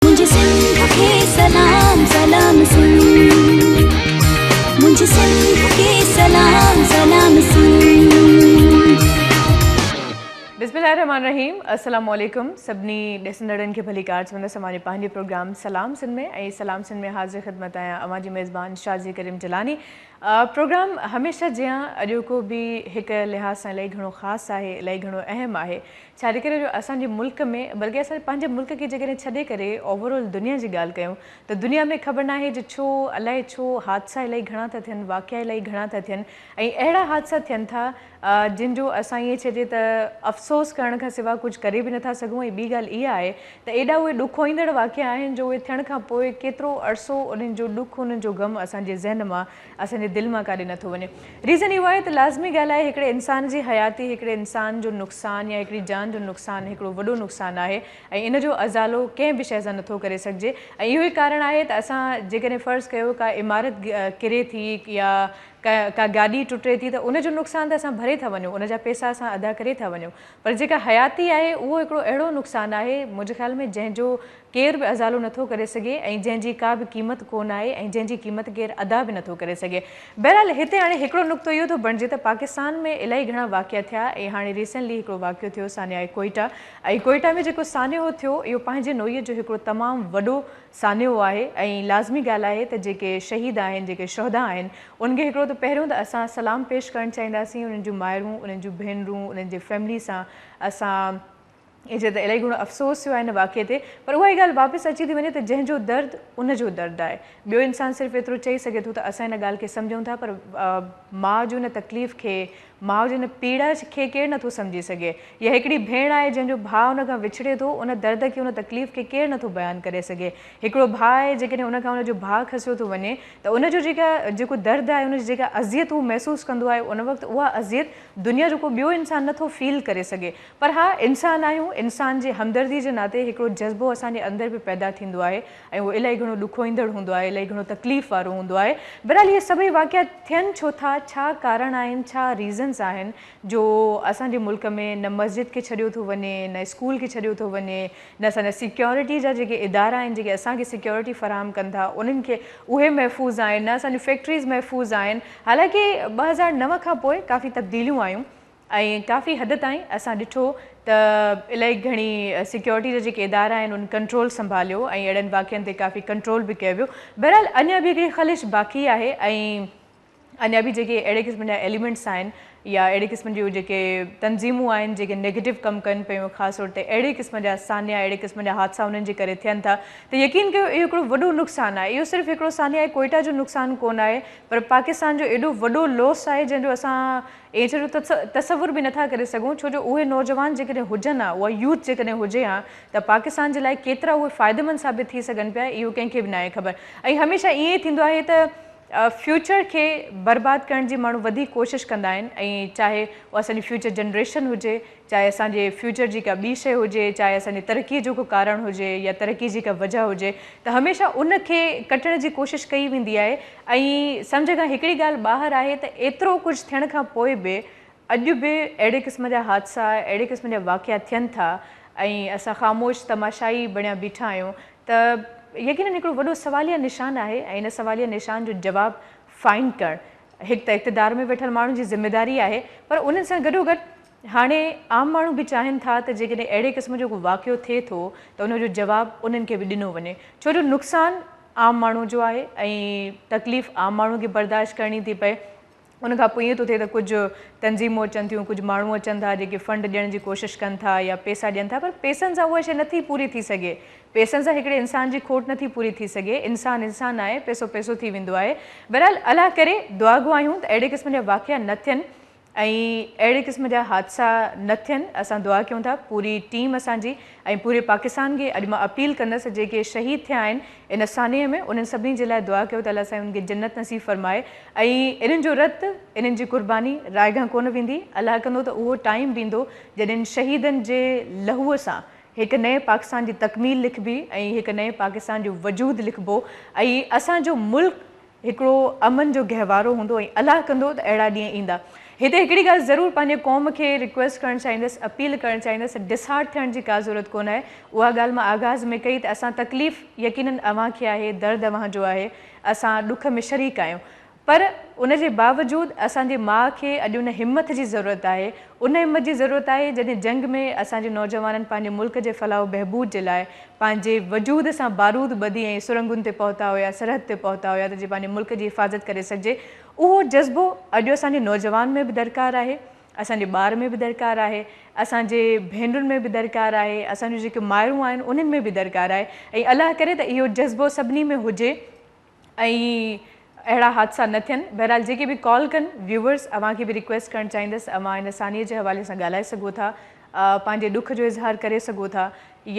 منهنجي سنڌ کي سلام سلام منهنجي سنڌ کي سلام سلام بسم الله الرحمن الرحيم السلام عليڪم سڀني ڏسندڙن کي ڀلي ڪار چوندس اوهانجي پنهنجي پروگرام سلام سنڌ ۾ ۽ سلام سنڌ ۾ حاضر خدمت آهيان اوهانجي ميزبان شازي ڪريم جلاني پروگرام هميشه جيان اڄوڪو به هڪ لحاظ سان الائي گهڻو خاص آهي الائي گهڻو اهم آهي ڇاجي ڪري جو اسان جي ملڪ ۾ بلڪه اسان جي پنهنجي ملڪ کي جيڪڏهن ڇڏي ڪري اوور آل دنيا جي ڳالهه ڪيون ته دنيا ۾ خبر ناهي جو ڇو الائي ڇو حادثا الائي گهڻا ٿا ٿين واقعا الائي گهڻا ٿا ٿين ۽ اهڙا حادثا ٿين ٿا جن جو اسان ائين چئجي ته افسوس ڪرڻ کان سواء ڪجهه ڪري به نٿا سگهون ۽ ٻي ڳالهه اها آهي ته ايڏا اهي ڏکوئيندڙ واقعا آهن جو اهي ٿيڻ کان پوء ڪيترو عرصو انهن جو ڏک انهن جو غم اسان جي ذهن مان اسان جي دل مان ڪاڏي نه ٿو وڃي. ريزن اهو آهي ته لازمي ڳالهه آهي هڪڙي انسان جي حياتي هڪڙي انسان جو نقصان يا هڪڙي جان جو نقصان هڪڙو وڏو نقصان آهي ۽ ان جو ازالو ڪنهن به شيء سان نه ٿو ڪري سگهجي ۽ اهو ئي ڪارڻ آهي ته اسان جيڪڏهن فرض ڪيو ڪا عمارت ڪري ٿي يا ڪا گاڏي ٽٽي ٿي ته ان جو نقصان ته اسان ڀري ٿا وڃون ان جا پيسا اسان ادا ڪري ٿا وڃون پر جيڪا حياتي آهي اهو هڪڙو اهڙو نقصان آهي منهنجي خيال ۾ جنهن جو ڪير به ازالو نه ٿو ڪري سگهي ۽ جنهن جي ڪا به قيمت ڪو نه آهي ۽ جنهن جي قيمت ڪير ادا به نه ٿو ڪري سگهي. بهرحال هتي هاڻي هڪڙو نقطو اهو ٿو بڻجي ته پاڪستان ۾ الائي گهڻا واقعا ٿيا ۽ هاڻي ريسينلي هڪڙو واقعو ٿيو سانحه ڪوئيٽا ۽ ڪوئيٽا ۾ جيڪو سانحو ٿيو اهو پنهنجي نوعيت جو هڪڙو تمام وڏو سانحو آهي ۽ لازمي ڳالهه آهي ته جيڪي شهيد آهن جيڪي شهدا آهن انهن کي هڪڙو ته پهريون ته اسان سلام پيش ڪرڻ چاهينداسين انهن جون مائرون انهن جون ڀينرون انهن جي فيملي سان اسان ايجي ته الائي گهڻو افسوس ٿيو آهي ان واقعي تي پر اها ئي ڳالهه واپس اچي ٿي وڃي ته جنهن جو درد ان جو درد آهي ٻيو انسان صرف ايترو چئي سگهي ٿو ته اسان ان ڳالهه کي سمجهون ٿا پر ماء جي ان تڪليف کي ماء جي ان پيڙا کي ڪير نٿو سمجهي سگهي يا هڪڙي ڀيڻ آهي جنهن جو ڀاء ان کان وڇڙي ٿو ان درد کي ان تڪليف کي ڪير نٿو بيان ڪري سگهي هڪڙو ڀاء آهي جيڪڏهن ان کان ان جو ڀاء کسيو ٿو وڃي ته ان جو جيڪا جيڪو درد آهي ان جي جيڪا اذيت هو محسوس ڪندو آهي ان وقت اها اذيت دنيا جو ڪو ٻيو انسان نٿو فيل ڪري سگهي پر ها انسان آهيون، انسان جي همدردي جي ناتي هڪڙو جذبو اسان جي اندر به پيدا ٿيندو آهي ۽ اهو الائي گهڻو ڏکوئيندڙ هوندو آهي، الائي گهڻو تڪليف وارو هوندو آهي. بهرحال اهي سڀئي واقعا ٿين ڇو ٿا، ڇا ڪارڻ آهن، ڇا ريزنز آهن جو اسان جي ملڪ ۾ نه مسجد کي ڇڏيو ٿو وڃي، نه اسڪول کي ڇڏيو ٿو وڃي، نه اسان جا سيڪيورٽي جا جيڪي ادارا آهن، جيڪي اسان کي سيڪيورٽي فراهم ڪن ٿا انهن کي اهي محفوظ آهن، نه اسان جون فيڪٽريز محفوظ آهن. حالانڪه ٻه هزار نو کان پوء ڪافي تبديليون آيون ۽ ڪافي حد تائين اسان ڏٺو ته الائي گهڻي سيڪيورٽي جا جيڪي ادارا آهن ان ڪنٽرول سنڀاليو ۽ اهڙن واقعن تي ڪافي ڪنٽرول به ڪيو ويو بهرحال اڃا به هڪڙي خلش باقي آهي ۽ اڃا به جيڪي اهڙي قسم جا ايليمينٽس آهن يا اهڙي قسم جون جيڪي تنظيمون آهن جيڪي نيگيٽو ڪم ڪن پيون خاص طور تي اهڙي قسم جا سانحا اهڙي قسم جا حادثا انهن جي ڪري ٿين ٿا ته يقين ڪيو اهو هڪڙو وڏو نقصان آهي اهو صرف هڪڙو سانحه ڪوئيٽا جو نقصان ڪونه آهي پر پاڪستان جو ايڏو وڏو لوس آهي جنهن جو اسان ائين چئي جو تصور به نٿا ڪري سگهون ڇو جو اهي نوجوان جيڪڏهن هجن ها اها يوٿ جيڪڏهن هجي ها ته پاڪستان جي لاء ڪيترا اهي فائديمند ثابت ٿي سگهن پيا اهو ڪنهن کي به ناهي خبر ۽ هميشه ائين ئي ٿيندو آهي ته فيوچر کي برباد ڪرڻ جي ماڻهو وڌيڪ ڪوشش ڪندا آهن ۽ چاهي اهو اسان جي فيوچر جنريشن هجي چاهي اسان جي فيوچر جي ڪا ٻي شيء هجي، چاهي اسان جي ترقيء جو ڪو ڪارڻ هجي يا ترقيء جي ڪا وجهه هجي ته هميشه ان کي ڪٽڻ جي ڪوشش ڪئي ويندي آهي ۽ سمجهه کان هڪڙي ڳالهه ٻاهر آهي ته ايترو ڪجهه ٿيڻ کان پوء به اڄ به اهڙي قسم جا حادثا، اهڙي قسم جا واقعا ٿين ٿا ۽ اسان خاموش تماشائي بڻيا بيٺا آهيون ته يقينن هڪڙو وڏو سواليه نشان آهي ۽ ان سواليه نشان جو جواب فائنڊ ڪرڻ هڪ ته اقتدار ۾ ويٺل ماڻهن جي ذميواري آهي پر انهن سان گڏوگڏ هاڻي عام ماڻهو به چاهين ٿا ته جيڪڏهن اهڙي قسم جو ڪو واقعو ٿئي ٿو ته ان جو جواب انهن کي به ڏنو وڃي ڇو جو نقصان عام ماڻهو جو آهي ۽ تڪليف عام ماڻهو کي برداشت ڪرڻي ٿي پئي ان کان پوء ائين ٿو ٿئي ته ڪجهه تنظيمون اچن ٿيون ڪجهه ماڻهو اچن ٿا جيڪي فنڊ ڏيڻ جي ڪوشش ڪن ٿا يا پيسا ڏين ٿا پر پيسن سان اها شيء نٿي پوري ٿي سگهي پئسن سان هڪڙي انسان جي کوٽ نٿي پوري ٿي سگهي. انسان انسان آهي، پئسو پئسو ٿي ويندو آهي. بهرحال الله ڪري، دعا گو آهيون ته اهڙي قسم جا واقعا نه ٿين ۽ اهڙي قسم جا حادثا نه ٿين. اسان دعا ڪيون ٿا پوري ٽيم اسان جي ۽ پوري پاڪستان کي اڄ مان اپيل ڪندس جيڪي شهيد ٿيا آهن ان سانحي ۾ انهن سڀني جي لاء دعا ڪيو ته الله سائين انهن کي جنت نصيب فرمائي ۽ انهن جو رت انهن جي قرباني رائگان ڪونه ويندي. الله ڪندو ته اهو ٽائيم به ايندو جڏهن شهيدن جي لهوء سان هڪ نئين پاڪستان جي تڪميل لکبي ۽ هڪ نئين پاڪستان جو وجود لکبو ۽ اسان جو ملڪ هڪڙو امن جو گهوارو هوندو ۽ الله ڪندو ته اهڙا ڏينهن ايندا. هتي هڪڙي ڳالهه ضرور پنهنجي قوم کي ريڪويسٽ ڪرڻ چاهيندس، اپيل ڪرڻ چاهيندس، ڊسهارٽ ٿيڻ جي ڪا ضرورت ڪونه آهي، اها ڳالهه مان آغاز ۾ ڪئي ته اسان تڪليف يقينن اوهان کي آهي، درد اوهان جو آهي، اسان ڏک ۾ شريڪ آهيون، پر ان جي باوجود اسان جي ماء کي اڄ ان همٿ جي ضرورت آهي، ان همٿ جي ضرورت آهي جڏهن جنگ ۾ اسان جي نوجوانن پنهنجي ملڪ جي فلاح و بهبود جي لاء پنهنجي وجود سان بارود ٻڌي ۽ سرنگهن تي پهتا هيا، سرحد تي پهتا هيا ته جي پنهنجي ملڪ جي حفاظت ڪري سگهجي. اهو جذبو اڄ اسان جي نوجوان ۾ به درڪار آهي، اسان جي ٻار ۾ به درڪار آهي، اسان جي ڀينرن ۾ به درڪار آهي، اسان جون جيڪي مائرون آهن انهن ۾ به درڪار آهي ۽ الله ڪري ته اهو جذبو سڀني ۾ هجي. ۽ اهڙا حادثا نه ٿين بهرحال جيڪي به ڪال ڪن ويوورس اوهان کي به ريڪويسٽ ڪرڻ چاهيندس اوهان ان سانحي جي حوالي سان ڳالهائي سگهو ٿا پنهنجي ڏک جو اظهار ڪري سگهو ٿا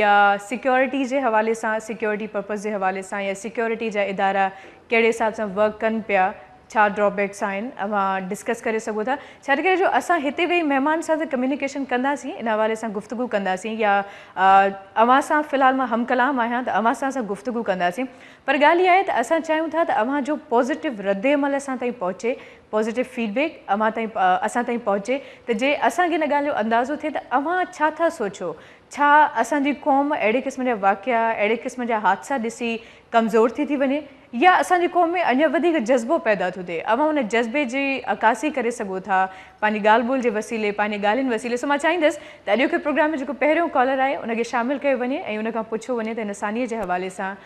يا سيڪيورٽي جي حوالي سان سيڪيورٽي پرپز جي حوالي سان يا سيڪيورٽي جا ادارا ڪهڙي حساب سان ورڪ ڪن پيا ڇا ڊرا بيڪس آهن اوهان ڊسڪس ڪري سگهو ٿا ڇاجي ڪري جو اسان هتي ويهي مهمان سان ته ڪميونيڪيشن ڪنداسين ان حوالي سان گفتگو ڪنداسين يا اوهان سان في الحال مان هم ڪلام آهيان ته اوهان سان اسان گفتگو ڪنداسين پر ڳالهه اها آهي ته اسان چاهيون ٿا ته اوهان جو پازيٽو ردعمل اسان تائين پهچي، پازيٽو فيڊ بيڪ اوهان تائين اسان تائين پهچي ته جي اسان کي ان ڳالهه جو اندازو ٿئي ته اوهان ڇا ٿا سوچو، ڇا اسان جي قوم اهڙي قسم جا واقعا، اهڙي قسم جا حادثا ڏسي ڪمزور ٿي ٿي وڃي يا اسان جي قوم ۾ اڃا وڌيڪ جذبو پيدا ٿو ٿئي، اوهان ان جذبي جي عڪاسي ڪري سگهو ٿا پنهنجي ڳالهه ٻولهه جي وسيلي، پنهنجي ڳالهين وسيلي، سو مان چاهيندس ته اڄوڪي پروگرام ۾ جيڪو پهريون ڪالر آهي ان کي شامل ڪيو وڃي ۽ ان کان پڇيو وڃي ته هن سانيء جي حوالي سان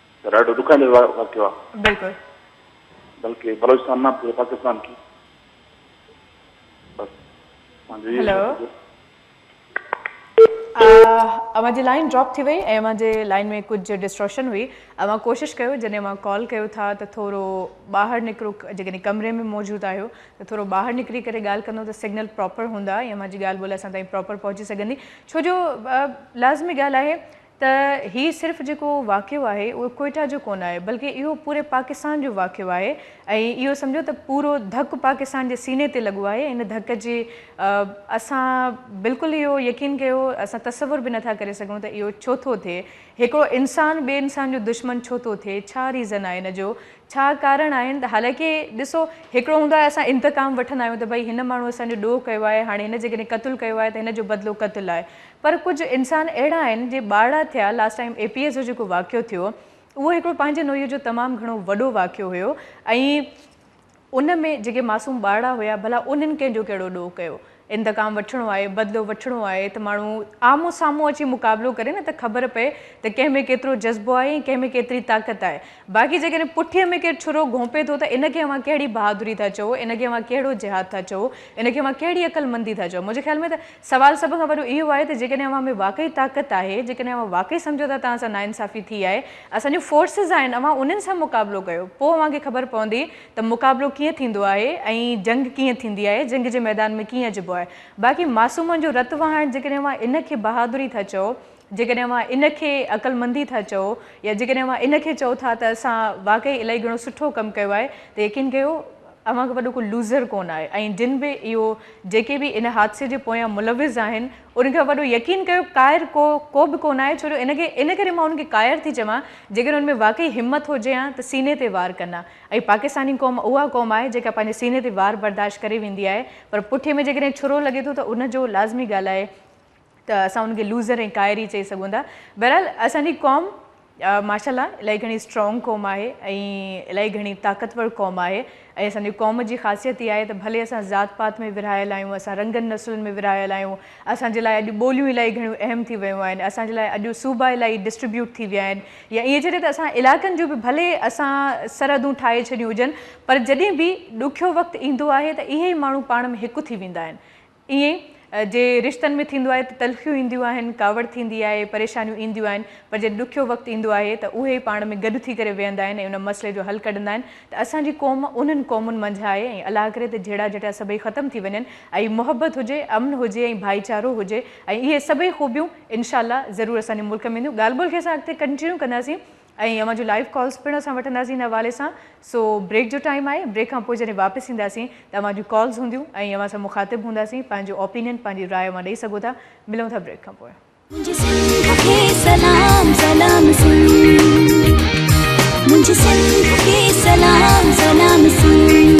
پر ڏاڍو ڏکائيندڙ واقعو آهي. بلڪل. بلڪه بلوچستان نه پوري پاڪستان کي بس اسان جو اهو ئي هلو. مطلب اوهان جي لائين ڊراپ ٿي وئي ۽ اوهان جي لائين ۾ ڪجهه ڊسٽورشن هئي اوهان ڪوشش ڪيو جڏهن اوهان ڪال ڪيو ٿا ته ٿورو ٻاهر نڪرو جيڪڏهن ڪمري ۾ موجود آهيو ته ٿورو ٻاهر نڪري ڪري ڳالهه ڪندو ته سگنل پراپر هوندا ۽ اوهان جي ڳالهه ٻولهه اسان تائين پراپر پهچي سگهندي ڇو جو لازمي ڳالهه آهي ته هي صرف جيڪو واقعو آهي اهو ڪوئيٽا جو ڪونه آهي بلڪه اهو پوري پاڪستان جو واقعو آهي ۽ اهو سمجهو ته پورو ڌڪ پاڪستان جي سيني تي لڳو آهي ان ڌڪ جي اسان بلڪل اهو يقين ڪيو اسان تصور به نٿا ڪري سگهون ته اهو ڇو ٿو ٿئي هڪڙو انسان ٻي انسان جو دشمن ڇو ٿو ٿئي ڇا ريزن آهي ان جو ڇا ڪارڻ آهن حالانڪه ڏسو هڪڙو هوندو آهي اسان انتقام وٺندا آهيون ته ڀئي هن ماڻهو اسان جو ڏوهه ڪيو آهي هاڻي هن جيڪڏهن قتل ڪيو آهي ته هن جو بدلو قتل آهي پر ڪجهه انسان اهڙا آهن جي ٻارڙا ٿيا last time A P S جو جيڪو واقعو ٿيو اهو هڪڙو پنهنجي نوعيت جو تمام گهڻو وڏو واقعو هيو ۽ ان ۾ جيڪي معصوم ٻارڙا هيا ڀلا انهن ڪنهن جو ڪهڙو ڏوهه ڪيو انتقام وٺڻو آهي بدلو وٺڻو آهي ته ماڻهو آمهون سامهون اچي مقابلو ڪري نه ته خبر پئي ته ڪنهن ۾ ڪيترو جذبو آهي ۽ ڪنهن ۾ ڪيتري طاقت آهي باقي جيڪڏهن پٺيء ۾ ڪير ڇرو گهونپي ٿو ته ان کي اوهان ڪهڙي بهادري ٿا چئو ان کي اوهان ڪهڙو جهاد ٿا چئو ان کي اوهان ڪهڙي عقلمندي ٿا چئو منهنجي خيال ۾ ته سوال سڀ کان وڏو اهو آهي ته جيڪڏهن اوهان ۾ واقعي طاقت آهي، جيڪڏهن اوهان واقعي سمجهو ٿا ته اوهان سان ناانصافي ٿي آهي، اسان جون فورسز آهن، اوهان انهن سان مقابلو ڪيو، پوء اوهان کي خبر پوندي ته مقابلو ڪيئن ٿيندو آهي ۽ جنگ ڪيئن ٿيندي آهي، جنگ جي ميدان ۾ ڪيئن اچبو آهي. باقي معصومن جو رت وهائڻ جيڪڏهن اوهان ان کي بهادري ٿا چئو، جيڪڏهن اوهان ان کي عقلمندي ٿا چئو يا جيڪڏهن اوهان ان کي چئو ٿا ته اسان واقعي الائي گهڻو سٺو ڪم ڪيو آهي ته يقين ڪيو اوهان کان وڏو ڪو لوزر ڪونه آهي ۽ جن به اهو جيڪي به ان حادثي جي پويان ملوث آهن ان کان وڏو يقين ڪيو قاهر ڪو ڪو به ڪونه آهي ڇو جو ان کي ان ڪري مان انهن کي قاهر ٿي چوان جيڪڏهن ان ۾ واقعي همت هجي ها ته سيني تي وار ڪن ها ۽ پاڪستاني قوم اها قوم آهي جيڪا پنهنجي سيني تي وار برداشت ڪري ويندي آهي پر پٺي ۾ جيڪڏهن ڇرو لڳي ٿو ته ان جو لازمي ڳالهه آهي ته اسان ان کي لوزر ۽ قائر ئي چئي سگهون ٿا. بهرحال اسان جي قوم ماشاء الله الائي گهڻي اسٽرانگ قوم آهي ۽ الائي گهڻي طاقتور قوم آهي ۽ اسان جي قوم جي خاصيت اها آهي ته ڀلي اسان ذات پات ۾ ورهايل آهيون، اسان رنگن نسلن ۾ ورهايل آهيون، اسان جي لاء اڄ ٻوليون الائي گهڻيون اهم ٿي ويون آهن، اسان جي لاء اڄ صوبا الائي ڊسٽريبيوٽ ٿي ويا آهن يا ائين چئجي ته اسان علائقن جون به ڀلي اسان سرحدون ٺاهي ڇڏيون هجن پر جڏهن به ڏکيو وقت ايندو آهي ته اهي ئي ماڻهو پاڻ ۾ هڪ ٿي ويندا آهن. ائين جي رشتن ۾ ٿيندو آهي ته تلخيون اينديون آهن، ڪاوڙ ٿيندي آهي، پريشانيون اينديون آهن پر جڏهن ڏکيو وقت ايندو آهي ته اهي ئي پاڻ ۾ گڏ ٿي ڪري ويهندا آهن ۽ ان مسئلي جو حل ڪڍندا آهن ته اسان جي قوم انهن قومن منجهه آهي ۽ الله ڪري ته جهيڙا جهٽيا سڀئي ختم ٿي وڃن ۽ محبت هجي، امن هجي ۽ ڀائيچارو هجي ۽ اهي سڀئي خوبيون انشاء الله ضرور اسان جي ملڪ ۾ اينديون ڳالهه ٻولهه کي اسان اڳتي ڪنٽينيو ڪنداسين. ۽ اوهان جون لائيو ڪالز پڻ اسان وٺنداسين ان حوالي سان سو بريڪ جو ٽائيم آهي بريڪ کان پوء جڏهن واپس اينداسين ته اوهان جون ڪالز هونديون ۽ اوهان سان مخاطب هونداسين پنهنجو اوپينين پنهنجي راء اوهان ڏئي سگهو ٿا ملون ٿا بريڪ کان پوء. منهنجي سنڌ کي سلام سلام سنڌمنهنجي سنڌ کي سلام سلام سنڌ.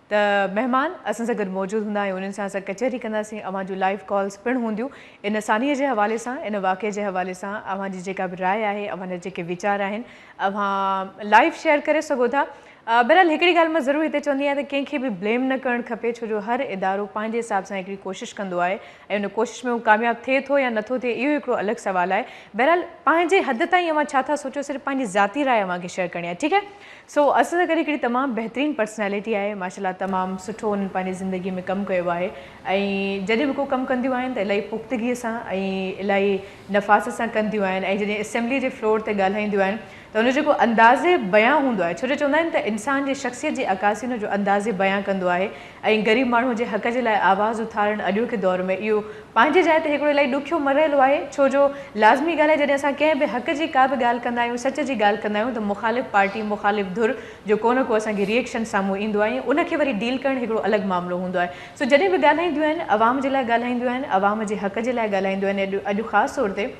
ته مهمان اسان سان گڏ موجود هوندا ۽ انهن سان اسان ڪچهري ڪنداسين، اوهان جون لائيو ڪالز پڻ هونديون، ان سانحي جي حوالي سان، ان واقعي جي حوالي سان اوهان جي جيڪا به راء آهي، اوهان جا جيڪي ويچار آهن، اوهان لائيو شيئر ڪري سگهو ٿا. بهرحال هڪڙي ڳالهه مان ضرور هتي چوندي آهيان ته ڪنهن کي به بليم نه ڪرڻ کپي ڇو جو هر ادارو پنهنجي حساب سان هڪڙي ڪوشش ڪندو آهي، ۽ ان ڪوشش ۾ هو ڪامياب ٿئي ٿو يا نٿو ٿئي اهو هڪڙو الڳ سوال آهي. بهرحال پنهنجي حد تائين اوهان ڇا ٿا سوچيو صرف پنهنجي ذاتي راء اوهان کي شيئر ڪرڻي آهي ٺيڪ آهي سو اسد زڪري هڪڙي تمام بهترين پرسنالٽي آهي ماشاءالله تمام سٺو انهن پنهنجي زندگي ۾ ڪم ڪيو آهي ۽ جڏهن به ڪو ڪم ڪنديون آهن ته الائي پختگي سان ۽ الائي نفاست سان ڪنديون آهن ۽ جڏهن اسيمبلي جي فلور تي ڳالهائينديون آهن ته ان جو ڪو انداز بيان هوندو آهي ڇو جو چوندا آهن ته انسان جي شخصيت جي عڪاسي ان جو انداز بيان ڪندو آهي ۽ غريب ماڻهو جي حق جي لاء آواز اٿارڻ اڄوڪي دور ۾ اهو پنهنجي جاء تي هڪڙو الائي ڏکيو مرحلو آهي ڇو جو لازمي ڳالهه آهي جڏهن اسان ڪنهن به حق جي ڪا به ڳالهه ڪندا آهيون سچ جي ڳالهه ڪندا آهيون ته مخالف پارٽي مخالف ڌر جو ڪو نه ڪو اسان کي ريئڪشن سامهون ايندو آهي ۽ ان کي وري ڊيل ڪرڻ هڪڙو الڳ معاملو هوندو آهي سو جڏهن به ڳالهائينديون آهن عوام جي لاء ڳالهائينديون آهن عوام جي حق جي لاء ڳالهائينديون آهن اڄ خاص طور تي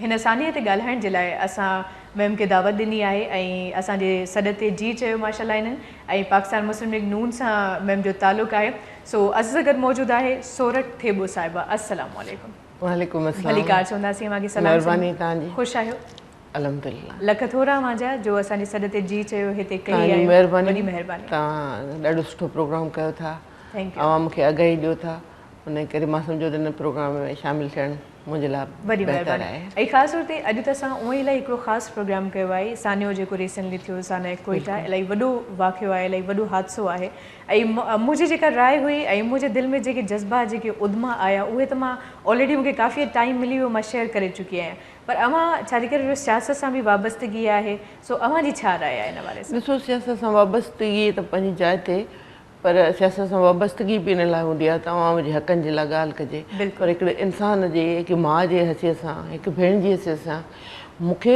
هن سانحي تي ڳالهائڻ جي لاء اسان ويم کي دعوت ڏني آهي ۽ اسان جي سڏ تي جي چيو ماشا الله انهن ۽ پاڪستان مسلم ليگ نون سان ويم جو تعلق آهي سو عزيز گڏ موجود آهي سورٺ ٿيٻو صاحبه السلام عليڪم. وعليڪم السلام ڀليڪار چونداسين اوهان کي سلام مهرباني توهان جي خوش آهيو الحمدلله لک ٿورا اوهان جا جو اسان جي سڏ تي جي چيو هتي ڪهي آيو وڏي مهرباني توهان ڏاڍو سٺو پروگرام ڪيو ٿا عوام کي آگاهي ڏيو ٿا انهي ڪري مان سمجهو ته هن پروگرام ۾ شامل ٿيڻ منهنجي لاء بهتر آهي. ۽ خاص طور تي اڄ ته اسان اونئي الائي هڪڙو خاص پروگرام ڪيو آهي سانحو جيڪو ريسينٽلي ٿيو سانحه ڪوئيٽا الائي وڏو واقعو آهي الائي وڏو حادثو آهي ۽ منهنجي جيڪا راء هئي ۽ منهنجي دل ۾ جيڪي جذبات جيڪي ادما آيا اهي ته مان آلريڊي مونکي ڪافي ٽائيم ملي ويو مان شيئر ڪري چڪي آهيان پر اوهان ڇا جي ڪري جو سياست سان به وابستگي آهي سو اوهان جي ڇا راء آهي ان حوالي سان. ڏسو سياست سان وابستگي ته پنهنجي جاء تي پر سياست سان وابستگي به ان لاء هوندي آهي ته عوام جي حقن جي لاء ڳالهه ڪجي پر هڪڙي انسان جي هڪ ماء جي حيثيت سان هڪ ڀيڻ جي حيثيت سان مون کي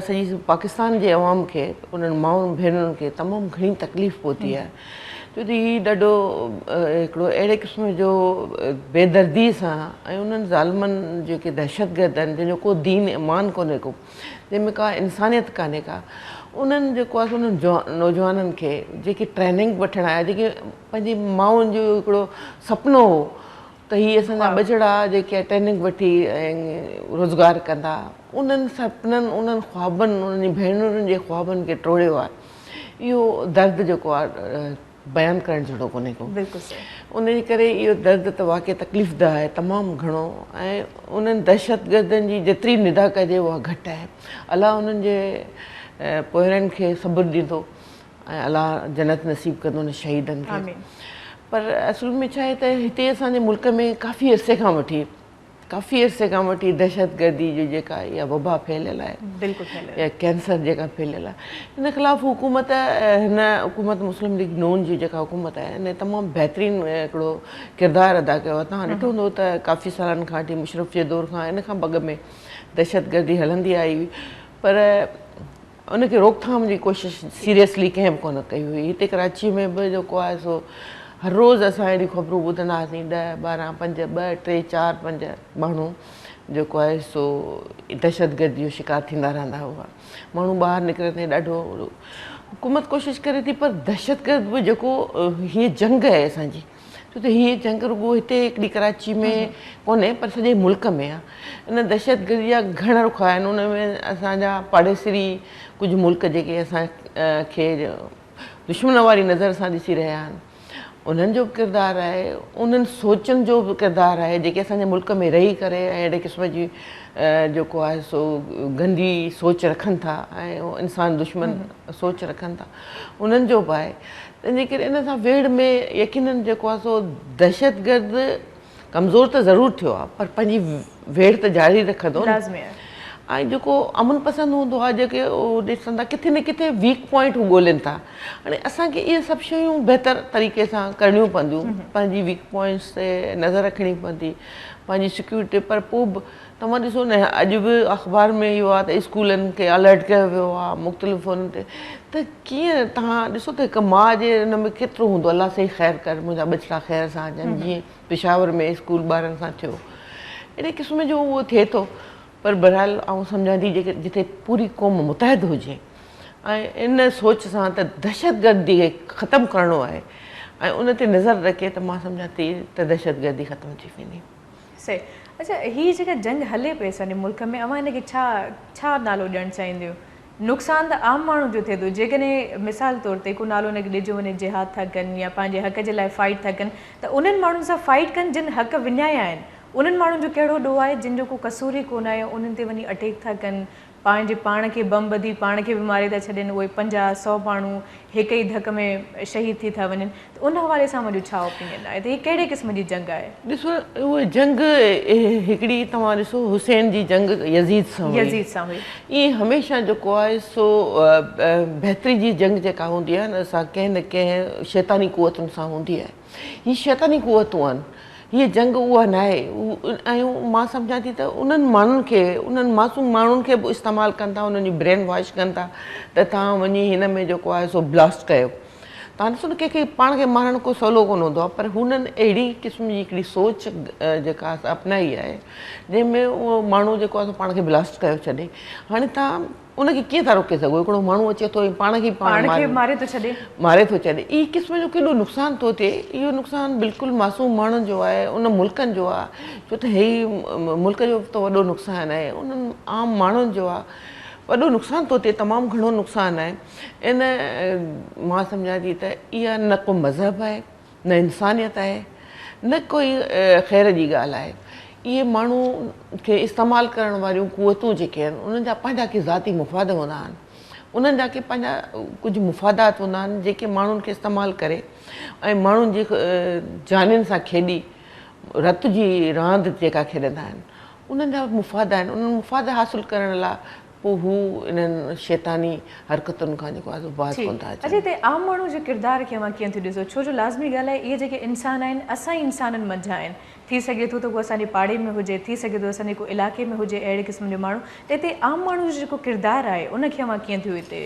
سڄي پاڪستان جي عوام کي انهن مائن ڀينرن کي تمام گهڻي تڪليف پهتي آهي ڇو ته هي ڏاڍو هڪڙو اهڙي قسم جو بيدردي سان ۽ انهن ظالمن جيڪي دهشتگرد آهن جن جو ڪو دين ايمان ڪونهي ڪو جنهن ۾ ڪا انسانيت ڪانهي ڪا انهن جيڪو آهي انهن نوجوانن کي جيڪي ٽريننگ وٺڻ آيا جيڪي پنهنجي مائن جو هڪڙو سپنو هو ته هي اسان جا ٻچڙا جيڪي ٽريننگ وٺي روزگار ڪندا انهن سپنن انهن خوابن انهن جي ڀينرن جي خوابن کي ٽوڙيو آهي اهو درد جيڪو آهي بيان ڪرڻ جھڙو ڪونھي ڪو. بلڪل صحيح. انھيء ڪري اھو درد ته واقعي تڪليف ده آھي تمام گھڻو ۽ انھن دھشتگردن جي جيتري ندا ڪجي اھا گھٽ آھي. الله انھن جي پوئرن کي صبر ڏيندو ۽ الله جنت نصيب ڪندو انھن شھيدن کي. آمين. پر اصل ۾ ڇا آھي ته ھتي اسان جي ملڪ ۾ ڪافي عرصي کان وٺي ڪافي عرصي کان وٺي دهشتگردي جو جيڪا اها وبا ڦهليل آهي يا ڪينسر جيڪا ڦهليل آهي ان خلاف حڪومت هن حڪومت مسلم ليگ نون جي جيڪا حڪومت آهي ان تمام بهترين هڪڙو ڪردار ادا ڪيو آهي توهان ڏٺو هوندو ته ڪافي سالن کان وٺي مشرف جي دور کان ان کان بڳ ۾ دهشتگردي هلندي آئي هئي پر ان کي روڪٿام جي ڪوشش سيريسلي ڪنهن به ڪونه ڪئي هئي. هتي ڪراچيء ۾ به جيڪو آهي سو هر روز اسان اهڙيون خبرون ٻڌندا هئاسين، ڏهه، ٻارهن، پنج، ٻه، ٽي، چار، پنج ماڻهو جيڪو آهي سو دهشتگرديء جو شڪار ٿيندا رهندا هئا. ماڻهو ٻاهر نڪرندي ڏاڍو حڪومت ڪوشش ڪري ٿي پر دهشتگرد به جيڪو هيء جنگ آهي اسان جي. ڇو ته هيء جنگ رڳو هتي هڪڙي ڪراچي ۾ ڪونهي پر سڄي ملڪ ۾ آ. ان دهشتگردي جا گهڻا رخ آهن ان ۾ اسان جا پاڙيسري ڪجهه ملڪ جيڪي اسان کي دشمن واري نظر سان ڏسي رهيا آهن انهن جو به ڪردار آهي انهن سوچن جو به ڪردار آهي جيڪي اسان جي ملڪ ۾ رهي ڪري ۽ اهڙي قسم جي جيڪو آهي سو گندي سوچ رکن ٿا ۽ انسان دشمن سوچ رکن ٿا انهن جو به آهي تنهنجي ڪري ان سان ويڙهه ۾ يقينن جيڪو آهي سو دهشتگرد ڪمزور ته ضرور ٿيو آهي پر پنهنجي ويڙهه ته جاري رکندو نه ۽ جيڪو امن پسند هوندو آهي جيڪي ڏسن ٿا ڪٿي نه ڪٿي ويڪ پوائنٽ هو ڳولين ٿا هاڻي اسان کي اهي سڀ شيون بهتر طريقي سان ڪرڻيون پونديون پنهنجي ويڪ پوائنٽس تي نظر رکڻي پوندي پنهنجي سيڪيورٽي پر پوء به توهان ڏسو نه اڄ به اخبار ۾ اهو آهي ته اسڪولن کي الرٽ ڪيو ويو آهي مختلف فون تي ته ڪيئن توهان ڏسو ته هڪ ماء جي ان ۾ ڪيترو هوندو الله سائين خير ڪر منهنجا ٻچڙا خير سان اچن جيئن پشاور ۾ اسڪول ٻارن سان ٿيو اهڙي قسم جو اهو ٿئي ٿو پر بهرحال آئون سمجهان ٿي جيڪي جتي پوري قوم متحد هجي ۽ ان سوچ سان ته دهشت گردي کي ختم ڪرڻو آهي ۽ ان تي نظر رکي ته مان سمجهان ٿي ته دهشت گردي ختم ٿي ويندي سي، اڇا هي جيڪا جنگ هلي پئي اسانجي ملڪ ۾ اوهان هن کي ڇا ڇا نالو ڏيڻ چاهينديون؟ نقصان ته عام ماڻهو جو ٿئي ٿو جيڪڏهن مثال طور تي ڪو نالو هن کي ڏجو وڃي جهاد ٿا ڪن يا پنهنجي حق جي لاء فائيٽ ٿا ڪن ته انهن ماڻهن سان فائيٽ ڪن جن حق وڃايا آهن انهن ماڻهن جو ڪهڙو ڏوهه آهي جن جو ڪو قصور ئي ڪونه آهي انهن تي وڃي اٽيڪ ٿا ڪن پنهنجي پاڻ کي بم ٻڌي پاڻ کي به ماري ٿا ڇڏين اهي پنجاهه سؤ ماڻهو هڪ ئي ڌڪ ۾ شهيد ٿي ٿا وڃن ته ان حوالي سان اوهان جو ڇا اوپينين آهي ته هي ڪهڙي قسم جي جنگ آهي. ڏسو اهي جنگ هڪڙي توهان ڏسو حسين جي جنگ يزيد سان هئي يزيد سان هئي. ائين هميشه جيڪو آهي سو بهتري جي جنگ جيڪا هوندي آهي نه سا ڪنهن نه ڪنهن شيطاني قوتن سان هوندي آهي. هي شيطاني قوتون آهن. هيء جنگ اها ناهي ۽ مان سمجهان ٿي ته انهن ماڻهن کي انهن معصوم ماڻهن کي به استعمال ڪن ٿا انهن جي برين واش ڪن ٿا ته توهان وڃي هن ۾ جيڪو آهي سو بلاسٽ ڪيو. توهان ڏسو نه ڪنهن کي پاڻ کي مارڻ ڪو سولو ڪونه هوندو آهي پر هنن اهڙي قسم جي هڪڙي سوچ جيڪا اپنائي آهي جنهن ۾ اهو ماڻهو جيڪو آهي سو پاڻ کي بلاسٽ ڪيو ڇڏي. هاڻي توهان ان کي ڪيئن ٿا روڪي سگهو هڪڙو ماڻهو اچي ٿو ۽ پاڻ کي ئي پاڻ ماري ٿو ڇڏي ماري ٿو ڇڏي هي قسم جو ڪيڏو نقصان ٿو ٿئي اهو نقصان بلڪل معصوم ماڻهن جو آهي ان ملڪن جو آهي ڇو ته هي ملڪ جو ته وڏو نقصان آهي انهن عام ماڻهن جو آهي وڏو نقصان ٿو ٿئي تمام گهڻو نقصان آهي ان مان سمجهان ٿي ته اها نه ڪو مذهب آهي نه انسانيت آهي نه ڪوئي خير جي ڳالهه آهي اهي ماڻهو کي استعمال ڪرڻ واريون قوتون جيڪي آهن انهن جا پنهنجا ڪي ذاتي مفاد هوندا آهن انهن جا ڪي پنهنجا ڪجهه مفادات هوندا آهن جيڪي ماڻهن کي استعمال ڪري ۽ ماڻهن جي جانين سان کيڏي رت جي راند جيڪا کيڏندا آهن انهن جا مفاد آهن انهن مفاد حاصل ڪرڻ لاء پوء هو انهن شيطاني حرڪتن کان جيڪو آهي سو باز ٺيڪ. ڪونه ٿا اچن. اچا هتي عام ماڻهو جي ڪردار کي اوهان ڪيئن ٿيو ڏسو؟ ڇو جو لازمي ڳالهه آهي اهي جيڪي انسان آهن اسان ئي انسانن منجهان آهن. ٿي سگهي ٿو ته هو اسان جي پاڙي ۾ هجي، ٿي سگهي ٿو ته اسان جي ڪو علائقي ۾ هجي اهڙي قسم جو ماڻهو ته هتي عام ماڻهو جو جيڪو ڪردار آهي ان کي اوهان ڪيئن ٿيو هتي.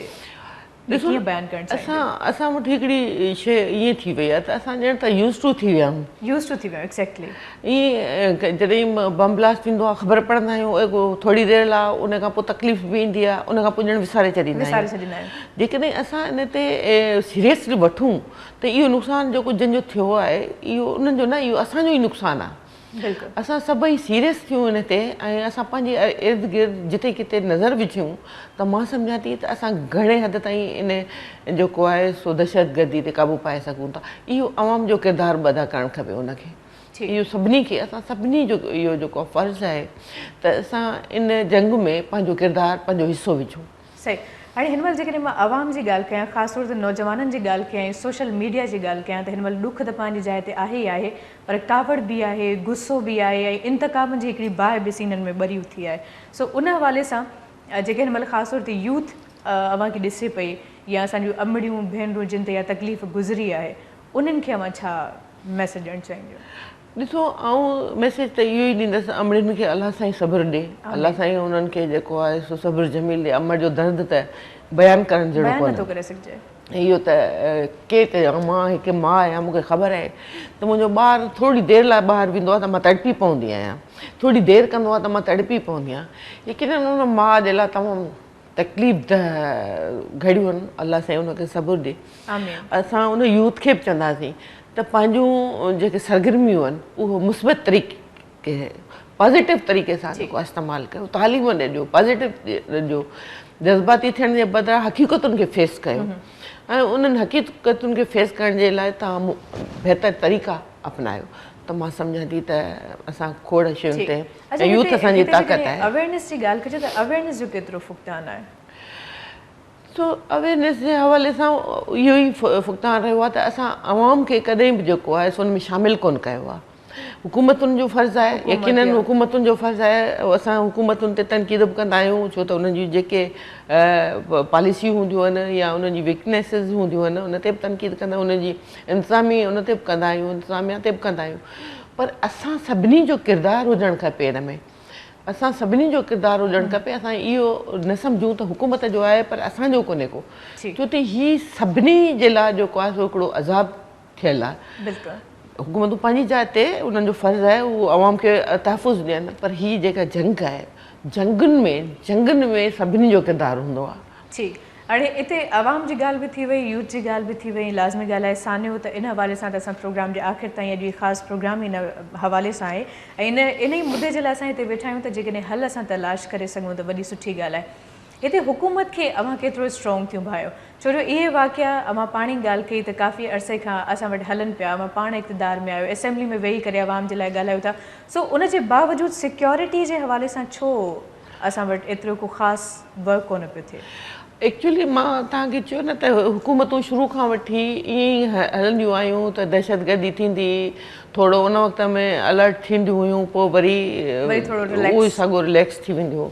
کي ڪيئن بيان ڪرڻ چاهيندو؟ اسان اسان وٽ هڪڙي شيء ائين ٿي وئي آهي ته اسان ڄڻ ته Used to ٿي ويا آهيون. Used to ٿي ويا آهيون Exactly. ائين جڏهن بم بلاسٽ ٿيندو آهي خبر پڙهندا آهيون اڳ ٿوري دير لاء ان کان پوء تڪليف به ايندي آهي ان کان پوء ڄڻ وساري ڇڏيندا آهيون. وساري ڇڏيندا آهيون. جيڪڏهن اسان ان تي Seriously وٺون ته اهو نقصان جيڪو جن جو ٿيو آهي اهو انهن جو نه اهو اسان جو ئي نقصان آهي. اسان سڀئي سيريس ٿيون ان تي ۽ اسان پنهنجي ارد گرد جتي ڪٿي نظر وجهيون ته مان سمجهان ٿي ته اسان گهڻي حد تائين ان جيڪو آهي سو دهشتگردي تي قابو پائي سگهون ٿا. اهو عوام جو ڪردار به ادا ڪرڻ کپي ان کي. اهو سڀني کي اسان سڀني جو اهو جيڪو فرض آهي ته اسان ان جنگ ۾ پنهنجو ڪردار پنهنجو حصو وجهون. صحيح هاڻي هن مهل جيڪڏهن مان عوام جي ڳالهه ڪيان خاص طور تي نوجوانن جي ڳالهه ڪيان ۽ سوشل ميڊيا جي ڳالهه ڪيان ته هن مهل ڏک ته پنهنجي جاء تي آهي ئي آهي پر ڪاوڙ به آهي غصو به آهي ۽ انتقام جي هڪڙي باهه به سينن ۾ ٻري اٿي آهي سو ان حوالي سان جيڪي هن مهل خاص طور تي يوٿ اوهان کي ڏسي پئي يا اسان جون امڙيون ڀينرون جن تي اها تڪليف گذري آهي انهن کي اوهان ڇا ميسيج ڏيڻ چاهينديون. ڏسو آئون ميسيج ته اهو ئي ڏيندس امڙين کي الله سائين صبر ڏي الله سائين انهن کي جيڪو آهي سو صبر جميل ڏي امڙ جو درد ته بيان ڪرڻ جهڙو ڪونهي بيان نٿو ڪري سگهجي. اهو ته ڪير ڪري ها مان هڪ ماء آهيان مون کي خبر آهي ته منهنجو ٻار ٿورڙي دير لاء ٻاهر ويندو آهي ته مان تڙپي پوندي آهيان ٿورڙي دير ڪندو آهي ته مان تڙپي پوندي آهيان يقينن ان ماء جي لاء تمام تڪليف ده گهڙيون الله سائين ان کي صبر ڏي اسان ان يوٿ کي به چونداسين ته پنهنجون جيڪي سرگرميون آهن اهو مثبت طريقي پازيٽو طريقي سان جيڪو استعمال ڪيو تعليم ڏي ڏيو پازيٽو ڏيو جذباتي ٿيڻ جي بدران حقيقتن کي فيس ڪيو ۽ انهن حقيقتن کي فيس ڪرڻ جي لاء تمام بهتر طريقا اپنايو ته مان سمجهان ٿي ته اسان کوڙ شين تي اچا هتي هتي جيڪڏهن اويئرنيس جي ڳالهه ڪجي ته اويئرنيس جو ڪيترو فقدان آهي؟ سو اويئرنيس جي حوالي سان اهو ئي فقدان رهيو آهي ته اسان عوام کي ڪڏهن به جيڪو آهي سو ان ۾ شامل ڪونه ڪيو آهي. حڪومتن جو فرض آهي يقيناً حڪومتن جو فرض آهي اسان حڪومتن تي تنقيد به ڪندا آهيون ڇو ته انهن جون جيڪي پاليسيون هونديون آهن يا انهن جي ويڪنيسز هونديون آهن ان تي به تنقيد ڪندا آهيون انهن جي انتظامي ان تي به ڪندا آهيون انتظاميا تي به ڪندا آهيون پر اسان سڀني جو ڪردار هجڻ کپي ان ۾ اسان سڀني جو ڪردار هجڻ کپي اسان اهو نه سمجهون ته حڪومت جو آهي پر اسان جو ڪونهي ڪو ڇو ته هي سڀني جي لاء جيڪو آهي سو هڪڙو عذاب ٿيل آهي حڪومتون پنهنجي جاء تي انهن جو فرض آهي هو عوام کي تحفظ ڏين پر هي جيڪا جنگ آهي جنگن ۾ جنگن ۾ سڀني جو ڪردار هوندو آهي ٺيڪ. هاڻي اتي عوام جي ڳالهه به ٿي وئي، يوٿ جي ڳالهه به ٿي وئي، لازمي ڳالهه آهي سانحو ته ان حوالي سان ته اسان پروگرام جي آخر تائين اڄ هي خاص پروگرام ئي ان حوالي سان آهي ۽ ان انهي مدي جي لاء اسان هتي ويٺا آهيون ته جيڪڏهن حل اسان تلاش ڪري سگهون ته وڏي سٺي ڳالهه آهي. هتي حڪومت کي اوهان ڪيترو اسٽرانگ ٿيون ڀانئيو ڇو جو اهي واقعا اوهان پاڻ ئي ڳالهه ڪئي ته ڪافي عرصي کان اسان وٽ هلن پيا، اوهان پاڻ اقتدار ۾ آهيو، اسيمبلي ۾ ويهي ڪري عوام جي لاء ڳالهايو ٿا سو ان جي باوجود سيڪيورٽي جي حوالي سان ڇو اسان وٽ ايترو ڪو خاص ورڪ ڪونه پيو ٿئي. ايڪچولي مان توهان کي چيو نه ته حڪومتون شروع کان وٺي ائين ئي هلنديون آيون ته دهشتگردي ٿيندي ٿورو ان وقت ۾ الرٽ ٿينديون هيون پوء وري اهو ئي سڳو رليڪس ٿي ويندي هو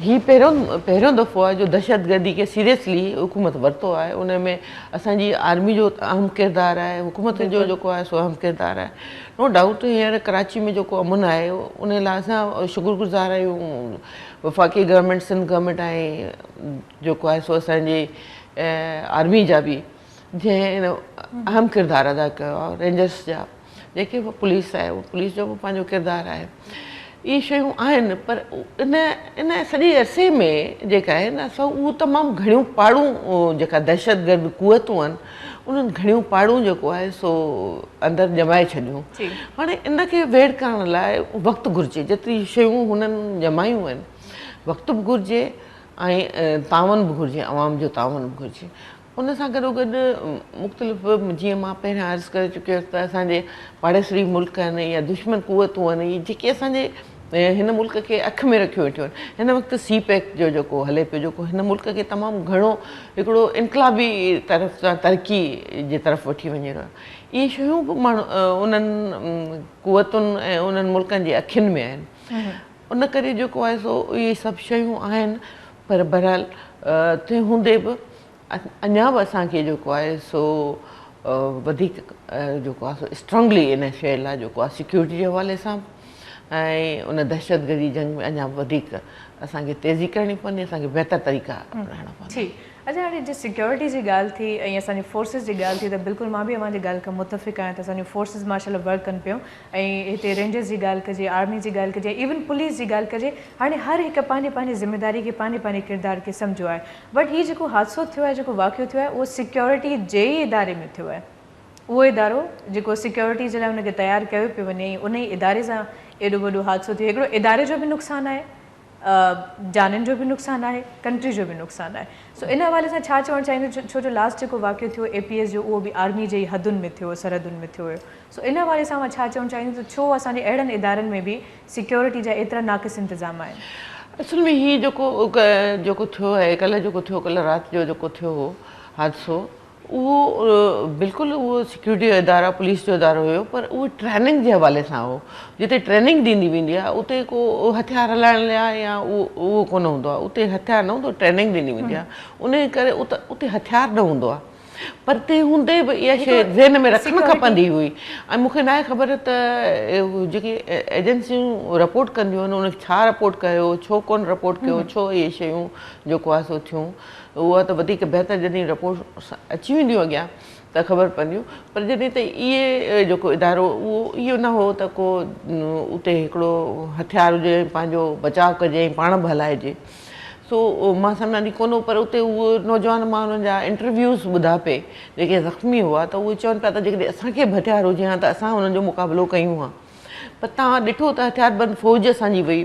هي پهريون پهريون دفعو آهي جو دهشتگردي کي سيريسلي حڪومت ورتو آهي ان ۾ اسان جي آرمي جو اهم ڪردار آهي حڪومت جو جيڪو آهي سو اهم ڪردار آهي. نو ڊائوٽ هينئر ڪراچي ۾ جيڪو امن آهي ان لاء اسان شڪر گذار آهيون وفاقي گورنمينٽ سنڌ گورنمينٽ ۽ جيڪو آهي سو اسانجي آرمي جا به جنهن اهم ڪردار ادا ڪيو آهي رينجرس جا جيڪي پوليس آهي پوليس جو به پنهنجو ڪردار آهي اهي شيون آهن پر ان ان سڄي عرصي ۾ جيڪا آهي نه سو اهو تمام گهڻيون پاڙون جيڪا دهشت گرد قوتون آهن انهن گهڻيون پاڙون جيڪو آهي سو اندر ڄمائي ڇڏيون هاڻي ان کي ويڙ ڪرڻ لاء وقت گهرجي جيتري شيون هنن ڄمايون آهن وقت به گهرجي ۽ تعاون به گهرجي عوام جو تعاون به گهرجي ان سان گڏوگڏ مختلف جيئن مان پهريان عرض ڪري چڪي هيس ته اسان جي پاڙيسري ملڪ آهن يا دشمن قوتون آهن اهي جيڪي اسان جي هن ملڪ کي اک ۾ رکيون ويٺيون آهن هن وقت سي پيڪ جو جيڪو هلي پيو جيڪو هن ملڪ کي تمام گهڻو هڪڙو انقلابي طرف سان ترقي جي طرف وٺي وڃي رهيو آهي اهي شيون به ماڻهو انهن قوتن ۽ انهن ملڪن جي اکين ۾ آهن ان ڪري جيڪو آهي سو اهي سڀ شيون آهن پر بهرحال تنهن هوندي به اڃا به اسان کي جيڪو آهي سو وڌيڪ جيڪو آهي سو اسٽرانگلي ان شيء لاء جيڪو آهي سيڪيورٽي جي حوالي سان به ۽ ان دهشتگردي جنگ ۾ اڃا به وڌيڪ اسان کي تيزي ڪرڻي پوندي اسان کي بهتر طريقا اپنائڻا پوندا. ٺيڪ اچا هاڻي جي سيڪيورٽي جي ڳالهه ٿي ۽ اسان جي فورسز جي ڳالهه ٿي ته بلڪل مان به اوهان جي ڳالهه کان متفق آهيان ته اسان جون فورسز ماشاء الله ورڪ ڪن پيون ۽ هتي رينجرز جي ڳالهه ڪجي، آرمي جي ڳالهه ڪجي، ايون پوليس جي ڳالهه ڪجي، هاڻي هر هڪ پنهنجي پنهنجي ذميواري کي پنهنجي پنهنجي ڪردار کي سمجهيو آهي. بٽ هي جيڪو حادثو ٿيو آهي جيڪو واقعو ٿيو آهي اهو سيڪيورٽي جي ئي اداري ۾ ٿيو آهي. اهو ادارو جيڪو سيڪيورٽي جي لاء ان کي تيار ڪيو پيو وڃي انهي اداري سان ايڏو وڏو حادثو ٿيو هڪڙو اداري جو به نقصان آهي جانين جو به نقصان آهي ڪنٽري جو به نقصان آهي سو ان حوالي سان ڇا چوڻ چاهيندو ڇو جو لاسٽ جيڪو واقعو ٿيو اي پي ايس جو اهو به آرمي جي ئي حدن ۾ ٿيو سرحدن ۾ ٿيو هيو سو ان حوالي سان اوهان ڇا چوڻ چاهيندو ته ڇو اسان جي اهڙن ادارن ۾ به سيڪيورٽي جا ايترا ناقص انتظام آهن. اصل ۾ هي جيڪو جيڪو ٿيو آهي ڪلهه جيڪو ٿيو ڪلهه رات جو جيڪو ٿيو هو حادثو اهو بلڪل اهو سيڪيورٽي جو ادارا پوليس جو ادارو هيو پر اهو ٽريننگ جي حوالي سان هو جتي ٽريننگ ڏني ويندي آهي اتي ڪو هٿيار هلائڻ لاء يا اهو ڪونه هوندو آهي اتي هٿيار نه هوندو آهي ٽريننگ ڏني ويندي آهي ان جي ڪري اتي هٿيار نه هوندو آهي پر تنهن هوندي به اها شيء ذهن ۾ رکڻ کپندي هئي ۽ مون کي ناهي خبر ته جيڪي ايجنسيون رپورٽ ڪنديون آهن ان کي ڇا رپورٽ ڪيو ڇو ڪونه رپورٽ ڪيو ڇو اهي شيون جيڪو آهي سو ٿيون اها ته وڌيڪ بهتر جڏهن رپورٽس اچي وينديون اڳيان ته خبر پونديون پر جڏهن ته اي اي اي جيڪو ادارو اهو اهو نه هو ته ڪو اتي هڪڙو هٿيار هجي ۽ پنهنجو بچاء ڪجي ۽ پاڻ به هلائجي سو مان سمجهان ٿي ڪونه پر اتي اهو نوجوان مان انهن جا انٽرويوز ٻڌا پئي جيڪي زخمي هئا ته اهي چون پيا ته جيڪڏهن اسان کي به هٿيار هجي هان ته اسان انهن جو مقابلو ڪيون هان پر توهان ڏٺو ته هٿياربند فوج اسان جي وئي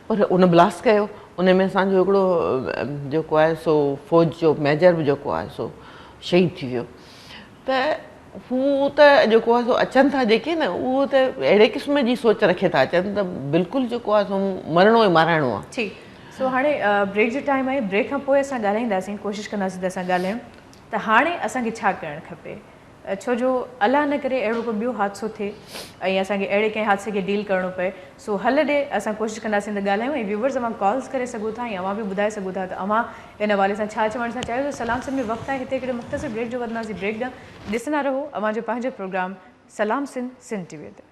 پر ان بلاسٽ ڪيو ان ۾ اسان جو هڪڙو جيڪو آهي سو فوج جو ميجر به جيڪو آهي سو شهيد ٿي ويو ته هو ته جيڪو آهي سو اچن ٿا جيڪي نه اهو ته اهڙي قسم جي سوچ رکي ٿا اچن ته بلڪل جيڪو آهي سو مرڻو ئي مارائڻو آهي ٺيڪ سو هاڻي بريڪ جو ٽائيم آهي بريڪ کان پوء اسان ڳالهائينداسين ڪوشش ڪنداسين ته اسان ڳالهايون ته هاڻي اسان کي ڇا ڪرڻ کپي ڇو جو الله نه ڪري اهڙو ڪو ٻيو حادثو ٿئي ۽ اسان کي اهڙي ڪنهن حادثي کي ڊيل ڪرڻو پئي سو حل ڏي اسان ڪوشش ڪنداسين ته ڳالهايون ۽ ويوورز اوهان ڪالز ڪري سگهو ٿا ۽ اوهان به ٻڌائي سگهو ٿا ته اوهان ان حوالي سان ڇا چوڻ ٿا چاهيو ته سلام سنڌ ۾ وقت آهي هتي هڪڙي مختصر بريڪ جو وڌنداسين بريڪ ڏانهن ڏسندا رهو اوهان جو پنهنجو پروگرام سلام سنڌ سنڌ ٽي وي تي.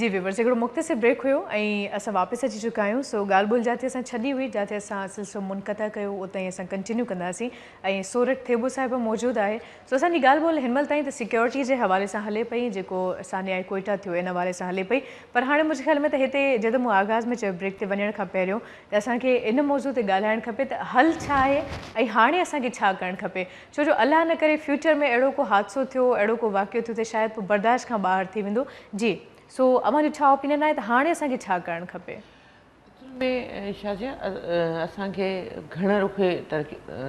جي ويورز هڪڙو مختصر بريڪ هيو ۽ اسان واپس اچي چڪا آهيون سو ڳالهه ٻولهه جاتي اسان ڇڏي هئي جاتي اسان سلسلو منقطع ڪيو اتان ئي اسان ڪنٽينيو ڪنداسين ۽ سورٺ ٿيٻو صاحب به موجود آهي سو اسان جي ڳالهه ٻولهه هن مهل تائين ته سيڪيورٽي جي حوالي سان هلي پئي جيڪو سانيائي ڪوئيٽا ٿيو ان حوالي سان هلي پئي پر هاڻي منهنجي خيال ۾ ته هتي جئين ته مون آغاز ۾ چيو بريڪ تي وڃڻ کان پهريون ته اسان کي ان موضوع تي ڳالهائڻ کپي ته حل ڇا آهي ۽ هاڻي اسان کي ڇا ڪرڻ کپي ڇو جو الله نه ڪري فيوچر ۾ اهڙو ڪو حادثو ٿيو اهڙو ڪو واقعو ٿيو ته شايد پوء برداشت کان ٻاهر ٿي ويندو جي سو اوهان جو ڇا اوپينين آهي ته هاڻي اسان کي ڇا ڪرڻ کپي؟ اصل ۾ شاھ جي اسان کي گهڻ رخي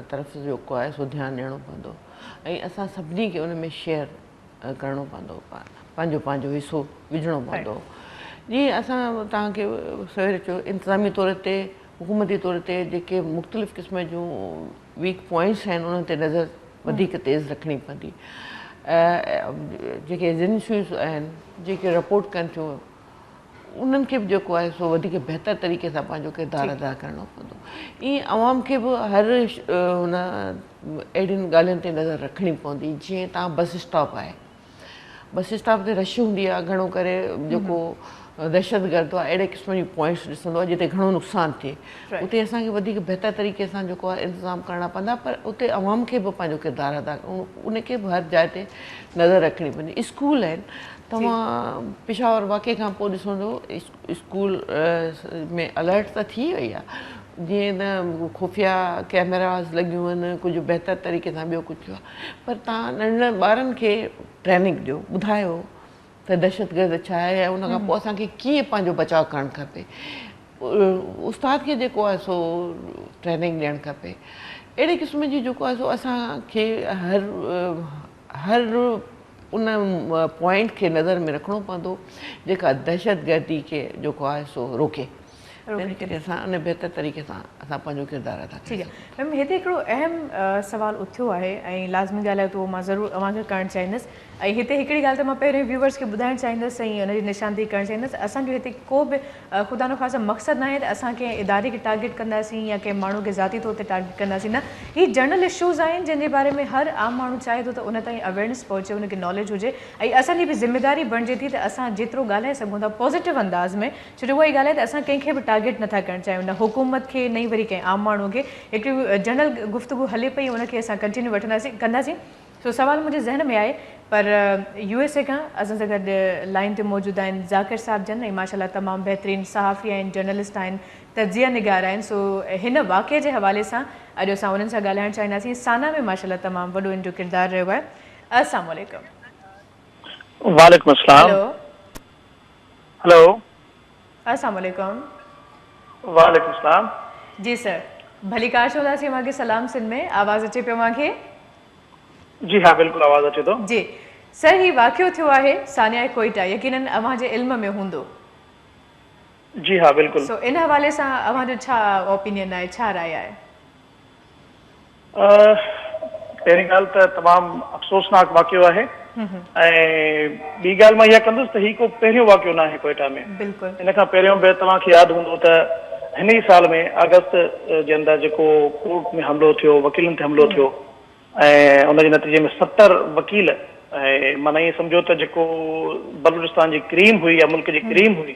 طرف جيڪو آهي سو ڌيان ڏيڻو پوندو ۽ اسان سڀني کي ان ۾ شيئر ڪرڻو پوندو پنهنجو پنهنجو حصو وجهڻو پوندو جيئن اسان توهان کي سوير چيو انتظامي طور تي حڪومتي طور تي جيڪي مختلف قسم جون ويڪ پوائنٽس آهن انهن تي نظر وڌيڪ تيز رکڻي پوندي جيڪي ايجنسيون آهن جيڪي رپورٽ ڪن ٿيون انهن کي به جيڪو آهي سو وڌيڪ بهتر طريقي سان پنهنجو ڪردار ادا ڪرڻو پوندو ائين عوام کي به هر هن اهڙين ڳالهين تي نظر رکڻي پوندي جيئن تان بس اسٽاپ آهي بس اسٽاپ تي رش هوندي آهي گهڻو ڪري جيڪو دهشت گرد آهي اهڙي قسم جي پوائنٽس ڏسندو آهي جتي گهڻو نقصان ٿئي اتي اسان کي وڌيڪ بهتر طريقي سان جيڪو آهي انتظام ڪرڻا پوندا پر اتي عوام کي به پنهنجو ڪردار ادا ان کي به هر جاء تي نظر رکڻي پوندي اسڪول آهن توهان پشاور واقعي کان پوء ڏسندو اسڪول ۾ الرٽ ته ٿي وئي آ جيئن ته خفيا ڪيمراز لڳيون آهن ڪجهه بهتر طريقي سان ٻيو ڪجهه ٿيو آهي پر تهان ننڍڙن ٻارن کي ٽريننگ ڏيو ٻڌايو ته دهشتگرد ڇا آهي ۽ ان کان پوء اسان کي ڪيئن پنهنجو بچاء ڪرڻ کپي استاد کي جيڪو آهي سو ٽريننگ ڏيڻ کپي اهڙي قسم جي جيڪو آهي سو اسان کي هر هر ان پوائنٽ کي نظر ۾ رکڻو پوندو جيڪا دهشتگردي کي جيڪو آهي سو روڪي تنهن ڪري اسان ان بهتر طريقي سان اسان پنهنجو ڪردار ادا ڪري سگهون ٿا. ميم هتي هڪڙو اهم سوال اٿيو آهي ۽ لازمي ڳالهه آهي ته اهو مان ضرور اوهان کي ڪرڻ چاهيندس ۽ هتي هڪڙي ڳالهه ته مان پهريون ويوورس کي ٻڌائڻ چاهيندس ۽ ان جي نشاندهي ڪرڻ چاهيندس اسان جو هتي ڪو به خدا نخواسته مقصد ناهي ته اسان ڪنهن اداري کي ٽارگيٽ ڪنداسين يا ڪنهن ماڻهو کي ذاتي طور تي ٽارگيٽ ڪنداسين نه هي جنرل اشوز آهن جن جي باري ۾ هر عام ماڻهو چاهي ٿو ته ان تائين اويرنس پهچي ان کي ناليج هجي ۽ اسان جي به ذميداري بڻجي ٿي ته اسان جيترو ڳالهائي سگهون ٿا پازيٽو انداز ۾ ڇو جو اهائي ڳالهه آهي ته اسان ڪنهن کي به ٽارگيٽ نٿا ڪرڻ چاهيون نه حڪومت کي نه ئي وري ڪنهن عام ماڻهو کي هڪڙي جنرل گفتگو هلي پئي ان کي اسان ڪنٽينيو وٺنداسين ڪنداسين سو سوال منهنجي ذهن ۾ آهي پر يو ايس اي کان اسان سان گڏ لائين تي موجود آهن ذاڪر صاحب جن ۽ ماشاء الله تمام بهترين صحافي آهن جرنلسٽ آهن تجزيه نگار آهن سو هن واقعي جي حوالي سان اڄ اسان انهن سان ڳالهائڻ چاهينداسين سانا ۾ ماشاء الله تمام وڏو ان جو ڪردار رهيو آهي السلام عليڪم وعليڪم السلام هلو هلو السلام عليڪم. وعليڪم السلام. جي سر ڀليڪار ڇو ٿا چيو اوهان کي سلام سنڌ ۾ آواز اچي پيو اوهان کي. جي ها بلڪل آواز اچي ٿو. جي سر هي واقعو ٿيو آهي سانيائي ڪوئيٽا يقينن اوهان جي علم ۾ هوندو. جي ها بلڪل. سو ان حوالي سان اوهان جو ڇا اوپينين آهي ڇا راء آهي. پهرين ڳالهه ته تمام افسوسناڪ واقعو آهي ۽ ٻي ڳالهه مان اها ڪندس ته هي ڪو پهريون واقعو نه آهي ڪوئيٽا ۾ ان کان پهريون به توهان کي ياد هوندو ته هن ئي سال ۾ آگسٽ جي اندر جيڪو ڪورٽ ۾ حملو ٿيو وڪيلن تي حملو ٿيو ۽ ان جي نتيجي ۾ ستر وڪيل ۽ معنيٰ ائين سمجهو ته جيڪو بلوچستان جي ڪريم هئي يا ملڪ جي ڪريم هئي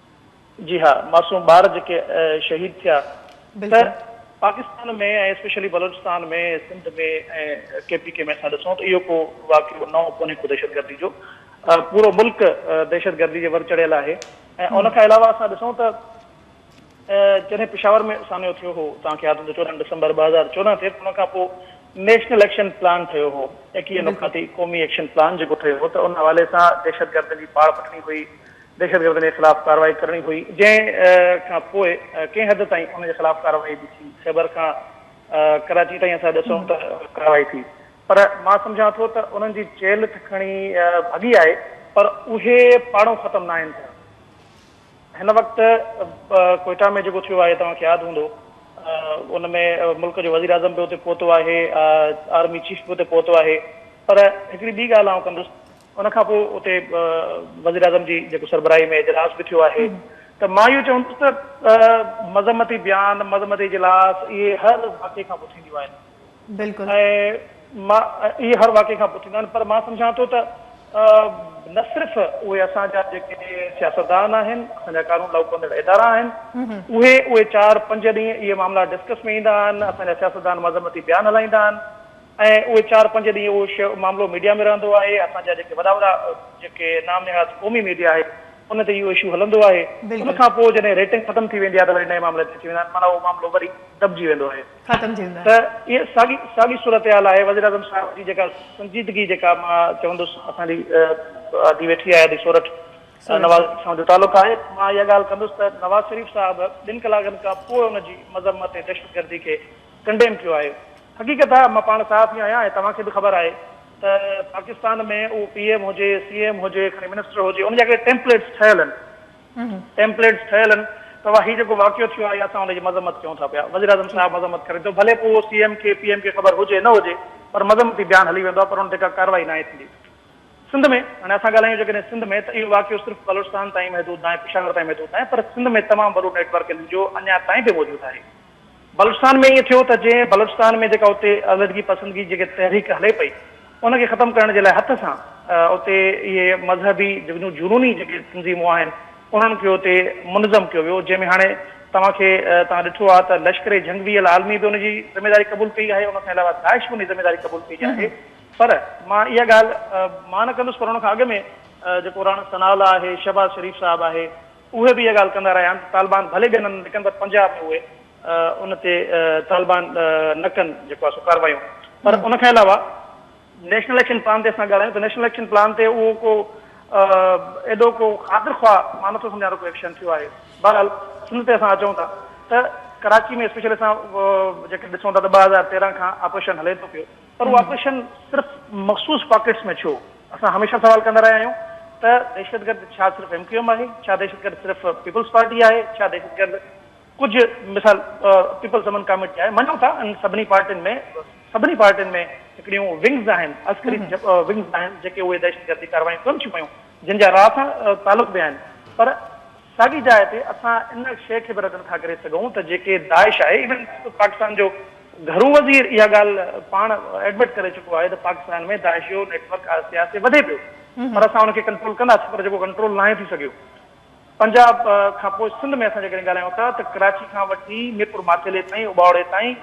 جي ها معصوم ٻار جيڪي شهيد ٿيا ته بلڪل. Pakistan ۾ ۽ specially Balochistan ۾ Sindh ۾ ۽ K P K ۾ اسان ڏسون ته اهو ڪو واقعو نئون ڪونهي ڪو دهشتگردي جو پورو ملڪ دهشتگردي جي ور چڙهيل آهي ۽ ان کان علاوه اسان ڏسون ته جڏهن پشاور ۾ سانحو ٿيو هو توهان کي ياد هوندو چوڏهن ڊسمبر ٻه هزار چوڏهن تي ان کان پوء نيشنل ايڪشن پلان ٺهيو هو ايڪيهه بلڪل. نقاطي قومي ايڪشن پلان جيڪو ٺهيو هو ته ان حوالي سان دهشتگردن جي پاڙ پٽڻي هئي دهشتگردن جي خلاف ڪارروائي ڪرڻي هئي، جنهن کان پوء ڪنهن حد تائين ان جي خلاف ڪارروائي به ٿي. خيبر کان ڪراچي تائين اسان ڏسون ته ڪارروائي ٿي پر مان سمجهان ٿو ته انهن جي چيلهه ته کڻي ڀڳي آهي پر اهي پاڙون ختم ناهن ٿيا. هن وقت ڪوئيٽا ۾ جيڪو ٿيو آهي توهان کي ياد هوندو ان ۾ ملڪ جو وزيراعظم به اتي پهتو آهي، آرمي چيف به اتي پهتو آهي پر هڪڙي ٻي ڳالهه آئون ڪندس، ان کان پوء اتي وزيراعظم جي جيڪو سربراهي ۾ اجلاس به ٿيو آهي ته مان اهو چوندس ته مذمتي بيان، مذمتي اجلاس اهي هر واقعي کان پوء ٿينديون آهن ۽ مان اهي هر واقعي کان پوء ٿينديون آهن پر مان سمجهان ٿو ته نه صرف اهي اسان جا جيڪي سياستدان آهن، اسان جا قانون لاڳو ڪندڙ ادارا آهن اهي اهي چار پنج ڏينهن اهي معاملا ڊسڪس ۾ ايندا آهن، اسان جا سياستدان مذمتي بيان هلائيندا آهن. ۽ اهي چار پنج ڏينهن اهو شيء معاملو ميڊيا ۾ رهندو آهي، اسان جا جيڪي وڏا وڏا جيڪي نام نهاد قومي ميڊيا آهي ان تي اهو اشو هلندو آهي، ان کان پوء جڏهن ريٽنگ ختم ٿي ويندي آهي ته وري نئين معاملي تي اچي ويندا آهن، معنيٰ اهو معاملو وري دٻجي ويندو آهي. ختم ٿي ويندو آهي. ته اها ساڳي ساڳي صورتحال آهي، وزيراعظم صاحب جي جيڪا سنجيدگي جيڪا مان چوندس اسان جي آڌي ويٺي آهي آڌي سورٺ نواز شريف صاحب جو تعلق آهي، مان اها ڳالهه ڪندس ته نواز شريف صاحب ٻن ڪلاڪن کان پوء ان جي مذمت ۽ دهشتگردي کي ڪنڊيم ڪيو آهي. حقيقت آ مان پاڻ صحافي آهيان ۽ توهان کي به خبر آهي ته پاڪستان ۾ اهو پي ايم هجي سي ايم هجي کڻي منسٽر هجي ان جا هڪڙي ٽيمپليٽس ٺهيل ان ٽيمپليٽس ٺهيل ان ته وا هي جيڪو واقعو ٿيو آهي اسان ان جي مذمت ڪيون ٿا پيا وزيراعظم صاحب مذمت ڪري ٿو ڀلي پوء اهو سي ايم کي پي ايم کي خبر هجي نه هجي پر مذمتي بيان هلي ويندو آ پر ان تي ڪا ڪارروائي ناهي ٿيندي سنڌ ۾ هاڻي اسان ڳالهايون جيڪڏهن سنڌ ۾ ته اهو واقعو صرف بلوچستان تائين محدود ناهي پشاور تائين محدود ناهي پر سنڌ ۾ تمام وڏو نيٽ ورڪ ان جو اڃا تائين به موجود آهي بلوچستان ۾ ائين ٿيو ته جنهن بلوچستان ۾ جيڪا اتي علحدگي پسندگي جيڪي تحريڪ هلي پئي ان کي ختم ڪرڻ جي لاء هٿ سان اتي اهي مذهبي جيڪون جنوني جيڪي تنظيمون آهن انهن کي اتي منظم ڪيو ويو جنهن ۾ هاڻي توهان کي توهان ڏٺو آهي ته لشڪر جهنگ بي العالمي به ان جي ذميداري قبول ڪئي آهي ان کان علاوه داعش به ان جي ذميداري قبول ڪئي آهي پر مان اها ڳالهه مان نه ڪندس پر ان کان اڳ ۾ جيڪو راڻا ثناء الله آهي شهباز شريف صاحب آهي اهي به اها ڳالهه ڪندا رهيا آهن ته طالبان ڀلي ٻين هنڌ نڪن پر پنجاب ۾ اهي ان تي طالبان نه ڪن جيڪو آهي سو ڪاروايون پر ان کان علاوه نيشنل ايڪشن پلان تي اسان ڳالهايون ته نيشنل ايڪشن پلان تي اهو ڪو ايڏو ڪو خاطر خواهه مان نٿو سمجهان ته ڪو ايڪشن ٿيو آهي بهرحال سنڌ تي اسان اچون ٿا ته ڪراچي ۾ اسپيشل اسان جيڪڏهن ڏسون ٿا ته ٻه هزار تيرنهن کان آپريشن هلي ٿو پيو پر اهو آپريشن صرف مخصوص پاڪيٽس ۾ ڇو؟ اسان هميشه سوال ڪندا رهيا آهيون ته دهشتگرد ڇا صرف ايم ڪيو ايم آهي؟ ڇا دهشتگرد صرف پيپلز پارٽي آهي؟ ڇا دهشتگرد ڪجهه مثال پيپلز امن ڪاميٽي آهي؟ مڃون ٿا ان سڀني پارٽين ۾ سڀني پارٽين ۾ هڪڙيون ونگز آهن، عسڪري ونگز آهن جيڪي اهي دهشتگردي ڪارروايون ڪن ٿيون پيون جن جا را سان تعلق به آهن پر ساڳي جاء تي اسان ان شيء کي به رد نٿا ڪري سگهون ته جيڪي داعش آهي ايون خود پاڪستان جو گهرو وزير اها ڳالهه پاڻ ايڊمٽ ڪري چڪو آهي ته پاڪستان ۾ داعش جو نيٽ ورڪ آهستي آهستي وڌي پيو پر اسان ان کي ڪنٽرول ڪنداسين پر جيڪو ڪنٽرول ناهي ٿي سگهيو پنجاب کان پوء سنڌ ۾ اسان جيڪڏهن ڳالهايون ٿا ته ڪراچي کان وٺي ميرپور ماٿيلي تائين اٻاوڙي تائين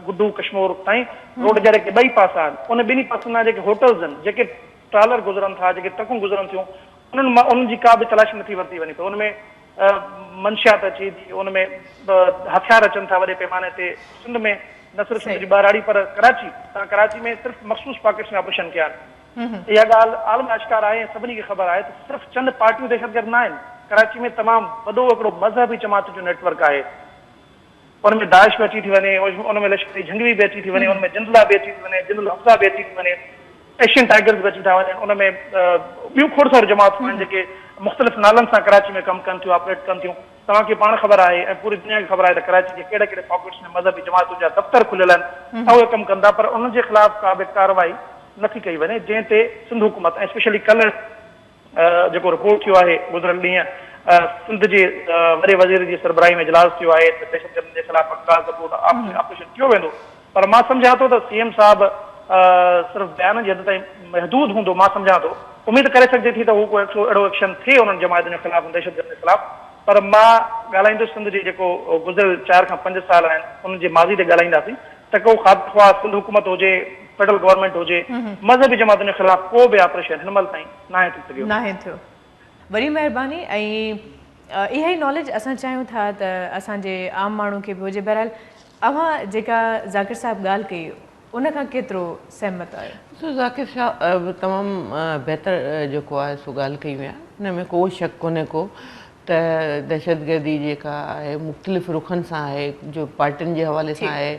گڊو ڪشمور تائين روڊ جا جيڪي ٻئي پاسا آهن ان ٻنهي پاسن جا جيڪي هوٽلز آهن جيڪي ٽرالر گذرن ٿا جيڪي ٽرڪون گذرن ٿيون انهن مان انهن جي ڪا به تلاشي نٿي ورتي وڃي ته ان ۾ منشيات اچي ٿي، ان ۾ هٿيار اچن ٿا وڏي پيماني تي، سنڌ ۾ نه صرف سنڌ جي ٻهراڙي پر ڪراچي تان ڪراچي ۾ صرف مخصوص پاڪيٽس ۾ آپريشن ڪيا آهن، اها ڳالهه عالم آشڪار آهي ۽ سڀني کي خبر آهي ته صرف چند پارٽيون دهشتگرد نه آهن، ڪراچي ۾ تمام وڏو هڪڙو مذهبي جماعتن جو نيٽ ورڪ آهي، ان ۾ داعش به اچي ٿي وڃي، ان ۾ لشڪر اي جهنگوي به اچي ٿي وڃي، ان ۾ جند الله به اچي ٿي وڃي، جند الحفظه به اچي ٿي وڃي، ايشين ٽائيگرز به اچي ٿا وڃن، ان ۾ ٻيون کوڙ ساريون جماعتون آهن جيڪي مختلف نالن سان ڪراچي ۾ ڪم ڪن ٿيون، آپريٽ ڪن ٿيون. توهان کي پاڻ خبر آهي ۽ پوري دنيا کي خبر آهي ته ڪراچي جي ڪهڙي ڪهڙي پاڪيٽس ۾ مذهبي جماعتن جا دفتر کليل آهن ۽ اهي ڪم ڪن ٿا پر انهن جي خلاف ڪا به ڪارروائي نٿي ڪئي وڃي جنهن تي سنڌ حڪومت ۽ اسپيشلي ڪلر جيڪو رپورٽ ٿيو آهي گذريل ڏينهن سنڌ جي وڏي وزير جي سربراهي ۾ اجلاس ٿيو آهي ته دهشتگردن جي خلاف پڪا ثبوت آپريشن ڪيو ويندو پر مان سمجهان ٿو ته سي ايم صاحب صرف بيانن جي حد تائين محدود هوندو مان سمجهان ٿو اميد ڪري سگهجي ٿي ته هو ڪو اهڙو ايڪشن ٿئي انهن جماعتن جي خلاف دهشتگردن جي خلاف پر مان ڳالهائيندس سنڌ جي جيڪو گذريل چار کان پنج سال آهن انهن جي ماضي تي ڳالهائينداسين ته ڪو خاطر خواهه سنڌ حڪومت هجي فيڊرل گورنمينٽ هجي، مذهبي جماعتن جي خلاف ڪو به آپريشن هن مهل تائين ناهي ٿي سگهيو. ناهي ٿيو. وڏي مهرباني ۽ اها ئي ناليج اسان چاهيون ٿا ته اسان جي عام ماڻهو کي به هجي. بهرحال اوهان جيڪا ذاڪر صاحب ڳالهه ڪئي ان کان ڪيترو سهمت آهيو؟ ڏسو ذاڪر صاحب تمام بهتر جيڪو آهي سو ڳالهه ڪئي هئي ان ۾ ڪو شڪ ڪونهي ڪو ته دهشتگردي جيڪا آهي مختلف رخن سان آهي جو پارٽين جي حوالي سان آهي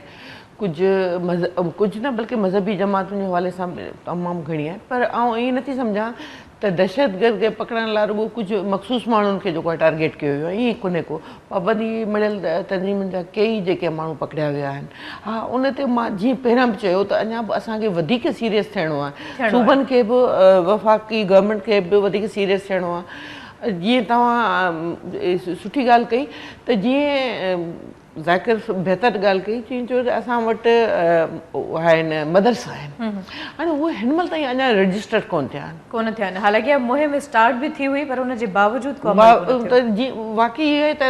ڪجهه مذهب ڪجهه نه بلڪه مذهبي جماعتن جي حوالي سان به تمام گهڻي آهي پر آئون ائين نٿي سمجهان ته دهشتگرد کي پڪڙڻ لاء رڳو ڪجهه مخصوص ماڻهن کي جيڪو آهي ٽارگيٽ ڪيو ويو آهي ائين ڪونهي ڪو پابندي مڙهيل تنظيمن جا ڪيئي جيڪي ماڻهو پڪڙيا ويا آهن ها ان تي مان جيئن پهريان به چيو ته اڃا به اسان کي وڌيڪ سيريس ٿيڻو آهي صوبن کي به وفاقي گورنمينٽ کي به وڌيڪ سيريس ٿيڻو آهي جيئن توهان سٺي ڳالهه ڪئي ته جيئن ذاڪر بهتر ڳالهه ڪئي چين جو اسان وٽ آهن مدرسا آهن هاڻي اهي هن مهل تائين اڃا رجسٽر ڪونه ٿيا آهن ڪونه ٿيا آهن حالانڪه اها مهم اسٽارٽ به ٿي هئي پر ان جي باوجود ڪو عمل ڪونه ٿيو جي واقعي اهو آهي ته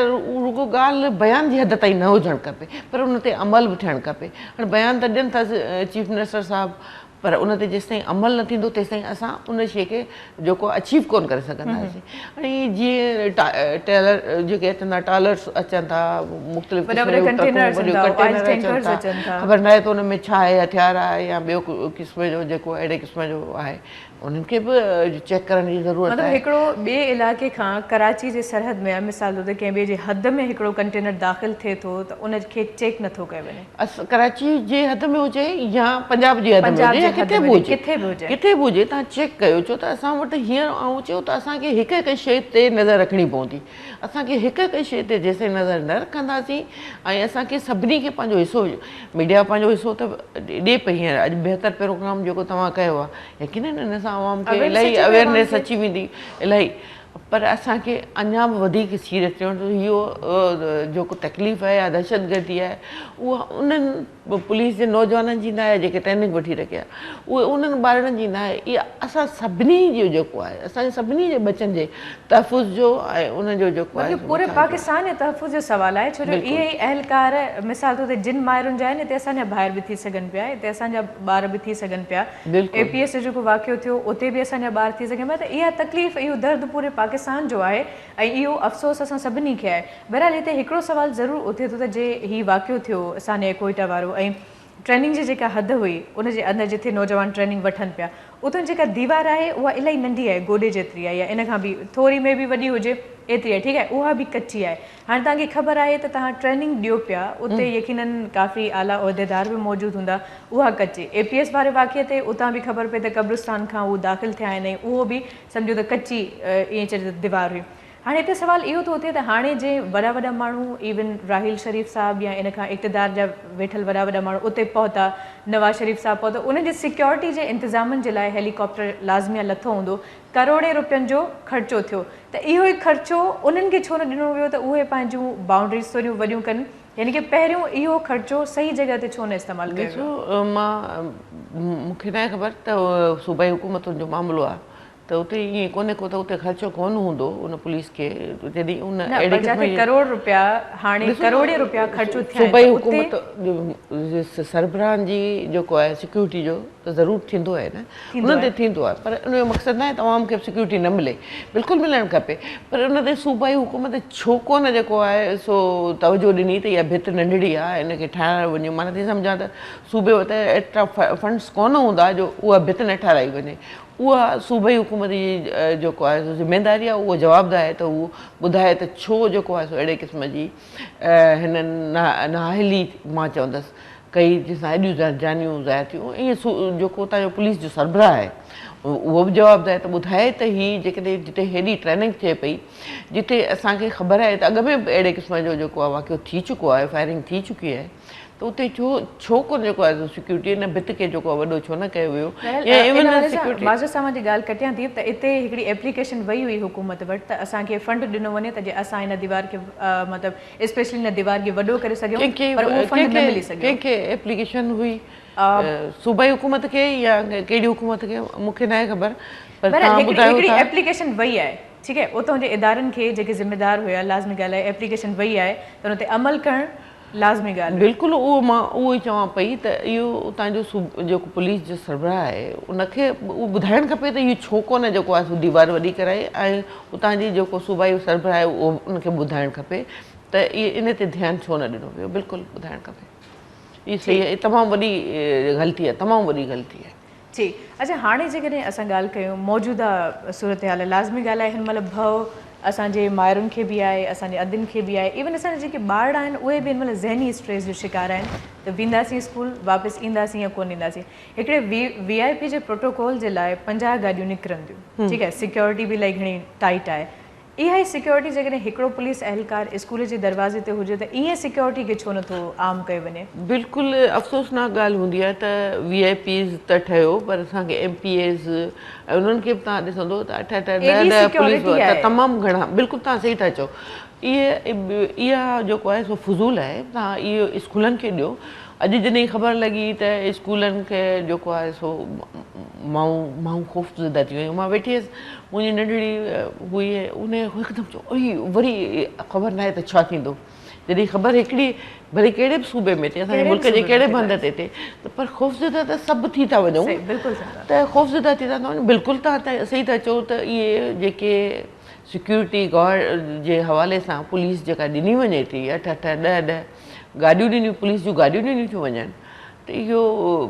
رڳو ڳالهه بيان جي حد تائين نه هجڻ کپي پر ان تي عمل به ٿيڻ کپي هاڻي بيان ته ڏين ٿا چيف منسٽر صاحب پر ان تي جيستائين عمل نه ٿيندو تيستائين اسان ان شيء کي جيڪو اچيو ڪون ڪري سگهنداسين ۽ جيئن ٽيلر جيڪي اچن ٿا ٽالرس اچن ٿا مختلف قسم جون ٽرڪون وڏيون ڪنٽينر اچن ٿا خبر ناهي ته ان ۾ ڇا آهي هٿيار آهي يا ٻيو قسم جو جيڪو اهڙي قسم جو آهي انهن کي به چيڪ ڪرڻ جي ضرورت آهي مطلب هڪڙو ٻئي علائقي کان ڪراچي جي سرحد ۾ مثال طور تي ڪنهن ٻئي جي حد ۾ هڪڙو ڪنٽينر داخل ٿئي ٿو ته ان کي چيڪ نه ٿو ڪيو وڃي. ڪراچي جي حد ۾ هجي يا پنجاب جي حد ۾ هجي يا ڪٿي به هجي ڪٿي به هجي توهان چيڪ ڪيو ڇو ته اسان وٽ هينئر آئون چيو ته اسان کي هڪ هڪ شيء تي نظر رکڻي پوندي اسان کي هڪ هڪ شيء تي جيسين نظر نه رکنداسين ۽ اسان کي سڀني کي پنهنجو حصو ميڊيا پنهنجو حصو ته ڏي پئي هينئر اڄ بهتر پروگرام جيڪو توهان ڪيو آهي يقينن ان سان عوام کي الاهي اويرنيس اچي ويندي الاهي پر اسان کي اڃا به وڌيڪ سيريس ٿيڻ گهرجي اهو جيڪو تڪليف آهي يا دهشتگردي آهي اها انهن پوليس جي نوجوانن جي ناهي جيڪي ٽريننگ وٺي رکي آهي اهي انهن ٻارڙن جي ناهي اها اسان سڀني جو جيڪو آهي اسان سڀني جي ٻچن جي تحفظ جو ۽ انهن جو جيڪو آهي بلڪل پوري پاڪستان جي تحفظ جو سوال آهي ڇو جو اهي ئي اهلڪار مثال طور تي جن مائرن جا آهن اتي اسان جا ڀائر به ٿي سگهن پيا اتي اسان جا ٻار به ٿي سگهن پيا اي پي ايس جو جيڪو واقعو ٿيو اتي به اسان جا ٻار ٿي سگهن پيا ته اها تڪليف اهو درد پوري پاڪستان جو آهي ۽ اهو افسوس اسان سڀني کي آهي بهرحال هتي هڪڙو سوال ضرور اٿي ٿو ته جي هي واقعو ٿيو سانحه ڪوئيٽا وارو ۽ ٽريننگ جي جيڪا حد هئي ان جي اندر جتي نوجوان ٽريننگ وٺن پيا اتان جيڪا ديوار آهي اها الائي ننڍي آهي گوڏي جيتري آهي يا ان کان به ٿوري مي بي وڏي هجي ايتري آهي ٺيڪ آهي اها به ڪچي آهي هاڻي توهان کي خبر آهي ته توهان ٽريننگ ڏيو پيا اتي يقينن ڪافي اعليٰ عهديدار به موجود هوندا اها ڪچي اي پي ايس واري واقعي تي اتان به خبر پئي ته قبرستان کان هو داخل ٿيا آهن ۽ اهو به سمجهو ته ڪچي ائين چئجي ته ديوار هئي هاڻي هتي سوال اهو ٿو اٿي ته هاڻي جي وڏا وڏا ماڻهو ايون راحيل شريف صاحب يا ان کان اقتدار جا ويٺل وڏا وڏا ماڻهو اتي پهتا نواز شريف صاحب پهتا انهن جي سيڪيورٽي جي انتظامن جي لاء هيلي ڪاپٽر لازميا لٿو هوندو ڪروڙين روپين جو خرچو ٿيو ته اهو ئي خرچو انهن کي ڇو نه ڏنو ويو ته اهي پنهنجون باونڊريز ٿوريون وڏيون ڪن يعني ڪه پهريون اهو خرچو صحيح جڳهه تي ڇو نه استعمال ڪيو ويو. ڏسو مان مون کي ناهي خبر ته صوبائي حڪومتن جو معاملو آ ته اتي ائين ڪونهي ڪو ته اتي خرچو ڪونه هوندو ان پوليس کي جڏهن ان اهڙي قسم جي نه پر جتي ڪروڙ روپيا هاڻي ڪروڙين روپيا خرچ ٿيا آهن ته اتي صوبائي حڪومت سربراهن جي جيڪو آهي سيڪيورٽي جو ته ضرور ٿيندو آهي نه انهن تي ٿيندو آهي پر ان جو مقصد ناهي ته عوام کي به سيڪيورٽي نه ملي بلڪل ملڻ کپي پر ان تي صوبائي حڪومت ڇو ڪونه جيڪو آهي سو توجهه ڏني ته اها ڀت ننڍڙي آهي ان کي ٺاهرايو وڃي مان نٿي سمجهان ته صوبي وٽ ايترا فنڊس ڪونه هوندا جو اها ڀت نه ٺاهرائي وڃي اها صوبائي حڪومت جي جيڪو آهي سو ذميداري آهي اها جوابده آهي ته هو ٻڌائي ته ڇو جيڪو آهي سو اهڙي قسم جي هن نااهلي مان چوندس ڪئي جنهن سان ايڏيون زهرجانيون ظاهر ٿيون ۽ اهي جيڪو اتان جو پوليس جو سربراهه آهي اهو به جواب ڏي ته ٻڌائي ته هي جيڪڏهن جتي هيڏي ٽريننگ ٿئي پئي جتي اسان کي خبر آهي ته اڳ ۾ به اهڙي قسم جو جيڪو آهي واقعو ٿي چڪو آهي فائرنگ ٿي چڪي آهي ته اتي ڇو ڇو ڪو جيڪو آهي سو سيڪيورٽي ان ڀت کي جيڪو آهي وڏو ڇو نه ڪيو ويو يا ايون ان حوالي سان معزز صاحب جي ڳالهه ڪٽيان ٿي ته اتي هڪڙي ايپليڪيشن وئي هئي حڪومت وٽ ته اسان کي فنڊ ڏنو وڃي ته جي اسان هن ديوار کي مطلب اسپيشلي هن ديوار کي وڏو ڪري سگهيون پر اهو فنڊ نه ملي سگهيو ڪنهن کي ايپليڪيشن هئي صوبائي حڪومت کي يا ڪهڙي حڪومت کي مون کي ناهي خبر پر توهان ٻڌايو ٿا هڪڙي ايپليڪيشن وئي آهي ٺيڪ آهي اتان جي ادارن کي جيڪي ذميدار هيا لازمي ڳالهه آهي ايپليڪيشن وئي آهي ته ان تي عمل ڪرڻ لازمي ڳالهه آهي. بلڪل اهو مان اهو ئي چوان پئي ته اهو اتان جو جيڪو پوليس جو سربراهه آهي ان کي اهو ٻڌائڻ کپي ته اهو ڇو ڪونه جيڪو آهي سو ديوار وڏي ڪرائي ۽ اتان جي جيڪو صوبائي سربراهه آهي اهو ان کي ٻڌائڻ کپي ته ان تي ڌيان ڇو نه ڏنو ويو بلڪل ٻڌائڻ کپي اهو صحيح تمام وڏي غلطي آهي تمام وڏي غلطي آهي. جي اچا هاڻي جيڪڏهن اسان ڳالهه ڪيون موجوده صورتحال لازمي ڳالهه آهي هن مهل ڀؤ اسان جي مائرن کي به آهي اسان جي ادين کي به آهي ايون اسان جا جيڪي ٻارڙا آهن اهي به هن مهل ذهني اسٽريس جو شڪار آهن ته وينداسين اسڪول واپس اينداسين يا ڪونه اينداسين هڪڙي وي وي آء پي جي پروٽوڪول جي لاء پنجاهه گاڏيون نڪرنديون ٺيڪ آهي سيڪيورٽي به الاهي گهڻي ٽائيٽ آهي اها ئي سيڪيورٽي جيڪڏهن هڪڙو پوليس اهلڪار اسڪول جي دروازي تي هجي ته ائين سيڪيورٽي کي ڇو نٿو عام ڪيو وڃي؟ بلڪل افسوسناڪ ڳالهه هوندي آهي ته وي آء پيز ته ٺهيو پر اسان کي ايم پي ايز ۽ انهن کي به توهان ڏسندو ته اٺ اٺ ڏهه ايڏي ڏهه پوليس سيڪيورٽي وارا آهي. تمام گهڻا بلڪل توهان صحيح ٿا چئو اهي اها جيڪو آهي سو فضول آهي توهان اهو اسڪولن کي ڏيو اڄ جڏهن خبر لڳي ته اسڪولن کي جيڪو آهي سو مائون مائون خوفزده ٿي ويون مان ويٺي هيس منهنجي ننڍڙي هئي ان هڪدم چيو اي وري خبر ناهي ته ڇا ٿيندو جڏهن خبر هڪڙي ڀلي ڪهڙي به صوبي ۾ ٿئي اسان جي ملڪ جي ڪهڙي به هنڌ تي ٿئي ته پر خوفزده ته سڀ ٿي ٿا وڃون ته خوفزده ٿي ٿا وڃون بلڪل تان صحيح ٿا چئو ته اهي جيڪي سيڪيورٽي گارڊ جي حوالي سان پوليس جيڪا ڏني وڃي ٿي اٺ اٺ ڏهه ڏهه گاڏيون ڏنيون پوليس جون گاڏيون ڏنيون ٿيون وڃن ته اهو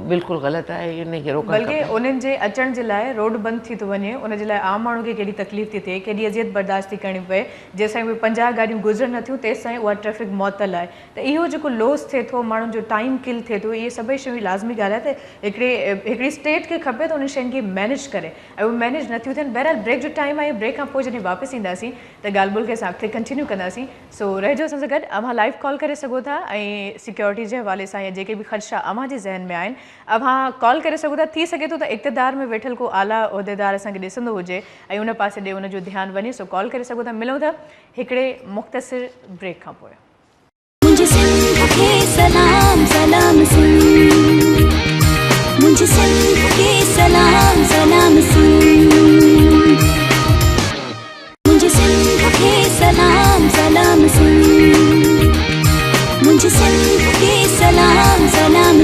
بلڪل غلط آهي ان کي روڪڻ کپي. بلڪه انهن جي اچڻ جي لاء روڊ بند ٿي ٿو وڃي ان جي لاء عام ماڻهو کي ڪيڏي تڪليف ٿي ٿئي ڪيڏي اذيت برداشت ٿي ڪرڻي پوي جيستائين اهي پنجاهه گاڏيون گذرن نه ٿيون تيستائين اها ٽريفڪ معطل آهي ته اهو جيڪو لوس ٿئي ٿو ماڻهن جو ٽائيم ڪل ٿئي ٿو اهي سڀئي شيون لازمي ڳالهه آهي ته هڪڙي هڪڙي اسٽيٽ کي کپي ته انهن شين کي مينيج ڪري ۽ اهي مينيج نه ٿيون ٿين بهرحال بريڪ جو ٽائيم آهي بريڪ کان پوء جڏهن واپس اينداسين ته ڳالهه ٻولهه کي اسان اڳتي ڪنٽينيو ڪنداسين. سو رهجو اسان سان گڏ اوهان لائيو ڪال ڪري سگهو ٿا ۽ سيڪيورٽي جي حوالي سان يا جيڪي به خدشا اوهان جي ذهن ۾ آهن اوهان ڪال ڪري سگهو ٿا ٿي سگهي ٿو ته اقتدار ۾ ويٺل ڪو اعليٰ عهديدار اسان کي ڏسندو هجي ۽ ان پاسي ڏي ان جو ڌيان وڃي سو ڪال ڪري سگهو ٿا ملون ٿا هڪڙي مختصر بريڪ کان پوء. منهنجي سنڌ کي سلام سلام سنڌمنهنجي سنڌ کي سلام سلام سنڌ. منهنجي سنڌ کي سلام سلام منهنجي سنڌ کي سلام سلام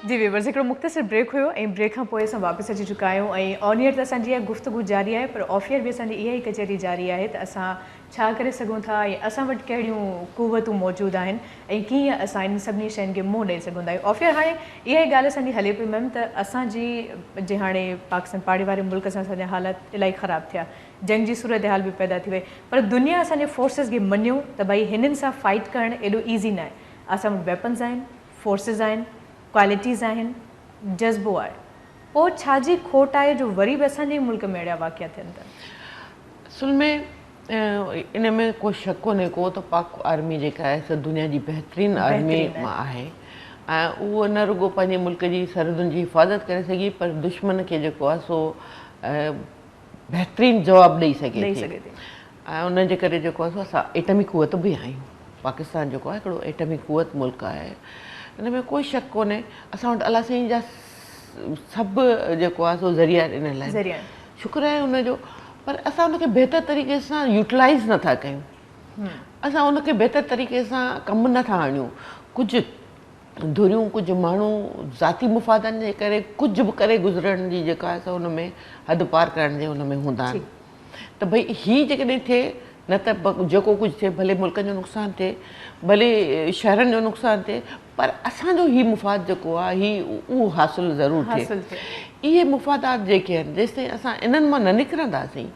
جي ويورز هڪڙو مختصر بريڪ هيو ۽ بريڪ کان پوء اسان واپس اچي چڪا آهيون ۽ آن ايئر ته اسان جي اها گفتگو جاري آهي پر آف ايئر به اسان جي اها ئي ڪچهري جاري آهي ته اسان ڇا ڪري سگهون ٿا ۽ اسان وٽ ڪهڙيون قوتون موجود آهن ۽ ڪيئن اسان انهن سڀني شين کي منهن ڏئي سگهون ٿا. آفيئر هاڻي اها ئي ڳالهه اسان جي هلي پئي ميم ته اسان جي جي هاڻي پاڪستان پاڙي واري ملڪ سان اسان جا حالات الائي خراب ٿيا جنگ جي صورتحال به پيدا ٿي وئي پر دنيا اسان جي فورسز کي مڃيو ته ڀائي هنن سان فائيٽ ڪرڻ ايڏو ايزي ناهي اسان وٽ ويپنز آهن فورسز آهن ڪوالٽيز آهن جذبو آهي. پوء ڇا جي کوٽ آهي جو وري به اسان جي ئي ملڪ ۾ اهڙيا واقعا ٿين ٿا. اصل ۾ ان ۾ ڪو شڪ ڪونهي ڪو ته پاڪ آرمي جيڪا آهي سا دنيا جي بهترين آرمي مان آهي ۽ اهو نه رڳو پنهنجي ملڪ جي سرحدن جي حفاظت ڪري سگهي پر دشمن کي جيڪو آهي سو بهترين جواب ڏئي سگهي ٿي ۽ ان جي ڪري جيڪو آهي سو اسان ايٽمي قوت به آهيون پاڪستان جيڪو آهي هڪڙو ايٽمي قوت ملڪ آهي ان ۾ ڪوئي شڪ ڪونهي اسان وٽ الله سائين جا سڀ جيڪو آهي سو ذريعا آهن ان لاء ذريعا شڪر آهي ان جو پر اسان ان کي بهتر طريقي سان يوٽلائز نٿا ڪيون اسان ان کي بهتر طريقي سان ڪم نٿا آڻيون ڪجهه ڌريون ڪجهه ماڻهو ذاتي مفادن جي ڪري ڪجهه به ڪري گذرڻ جي جيڪا آهي سو ان ۾ حد پار ڪرڻ جي ان ۾ هوندا آهن ته ڀئي هي جيڪڏهن ٿئي نه ته جيڪو ڪجهه ٿئي ڀلي ملڪن جو نقصان ٿئي ڀلي شهرن جو نقصان ٿئي پر اسان جو هي مفاد جيڪو آهي هي اهو حاصل ضرور ٿئي. اهي مفادات جيڪي آهن جيستائين اسان انهن مان نه نڪرنداسين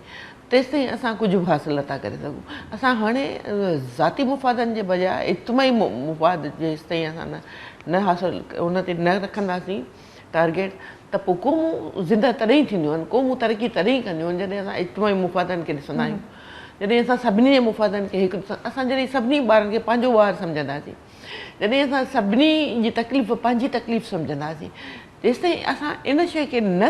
تيستائين اسان ڪجهه به حاصل نٿا ڪري سگهون. اسان هاڻي ذاتي مفادن جي بجاء اجتماعي مفاد جيستائين اسان نه حاصل ان تي نه رکنداسين ٽارگيٽ ته پوء قومون زنده تڏهن ئي ٿينديون آهن، قومون ترقي تڏهن ئي ڪنديون آهن جڏهن اسان اجتماعي مفادن کي ڏسندا آهيون. جڏهن اسان سڀني جي مفادن کي هڪ اسان جڏهن سڀني ٻارن کي پنهنجو ٻار سمجهنداسين. جڏهن اسان سڀني جي تڪليف پنهنجي تڪليف سمجهنداسين جيستائين اسان ان شيء کي نه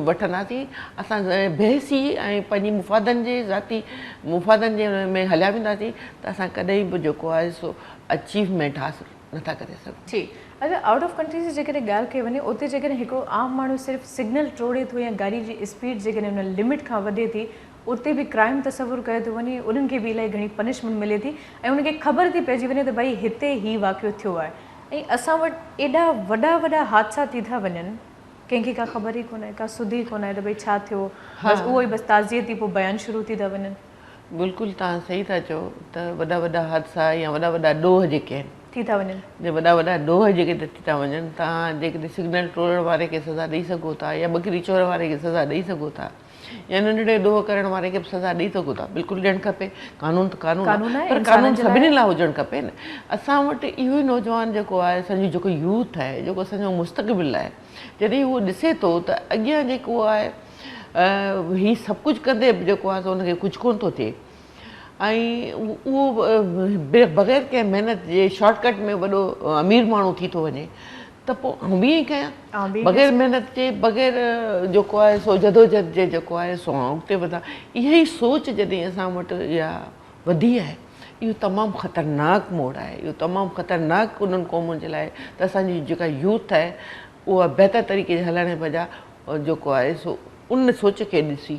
وٺنداسين اسان بحثي ۽ پنهنجي مفادن جي ذاتي مفادن جي ان ۾ هليا وينداسين ته اسان ڪڏهن به جيڪو آهي سو اچيومينٽ حاصل نه ٿا ڪري سگهون. جي اگر آئوٽ آف ڪنٽري جي جيڪڏهن ڳالهه ڪئي وڃي اتي جيڪڏهن هڪڙو عام ماڻهو صرف سگنل ٽوڙي ٿو يا گاڏي جي اسپيڊ جيڪڏهن ان لمٽ کان وڌي ٿي اتي به ڪرائم تصور ڪيو ٿو وڃي انهن کي به الائي گهڻي پنشمينٽ ملي ٿي ۽ انهن کي خبر ٿي پئجي وڃي ته ڀائي هتي هي واقعو ٿيو آهي ۽ اسان وٽ ايڏا وڏا وڏا حادثا ٿي ٿا وڃن ڪنهن کي ڪا خبر ئي ڪونه آهي ڪا سڌ ئي ڪونه آهي ته ڀائي ڇا ٿيو بس اهو ئي بس تعزيتي پوء بيان شروع ٿي ٿا وڃن. بلڪل توهان صحيح ٿا چئو ته وڏا وڏا حادثا يا وڏا وڏا ڏوهه جيڪي آهن ٿي ٿا وڃن. جي وڏا وڏا ڏوهه جيڪي ٿي ٿا وڃن توهان جيڪڏهن سگنل ٽوڙڻ واري کي سزا ڏئي سگهو ٿا يا ٻڪري چور واري کي سزا ڏئي سگهو ٿا يا ننڍڙي ڏوهه ڪرڻ واري کي به سزا ڏئي ته خدا بلڪل ڏيڻ کپي قانون ته قانون آهي پر قانون سڀني لاء هجڻ کپي نه اسان وٽ اهو ئي نوجوان جيڪو آهي اسان جو جيڪو يوٿ آهي جيڪو اسان جو مستقبل آهي جڏهن هو ڏسي ٿو ته اڳيان جيڪو آهي هي سڀ ڪجهه ڪندي به جيڪو آهي سو ان کي ڪجهه ڪونه ٿو ٿئي ۽ اهو بغير ڪنهن محنت جي شارٽ ڪٽ ۾ وڏو امير ماڻهو ٿي ٿو وڃي ته پوء آئون به ائين ئي ڪيان. بغير محنت جي، بغير جيڪو آهي سو جدوجهد جي جيڪو آهي سو آئون اڳتي وڌان. اها ئي سوچ جڏهن اسان وٽ اها وڌي آهي، اهو تمام خطرناڪ موڙ آهي، اهو تمام خطرناڪ انهن قومن جي لاء آهي ته اسان جي جيڪا يوٿ آهي اها بهتر طريقي جي هلڻ جي بجاء جيڪو آهي سو ان سوچ کي ڏسي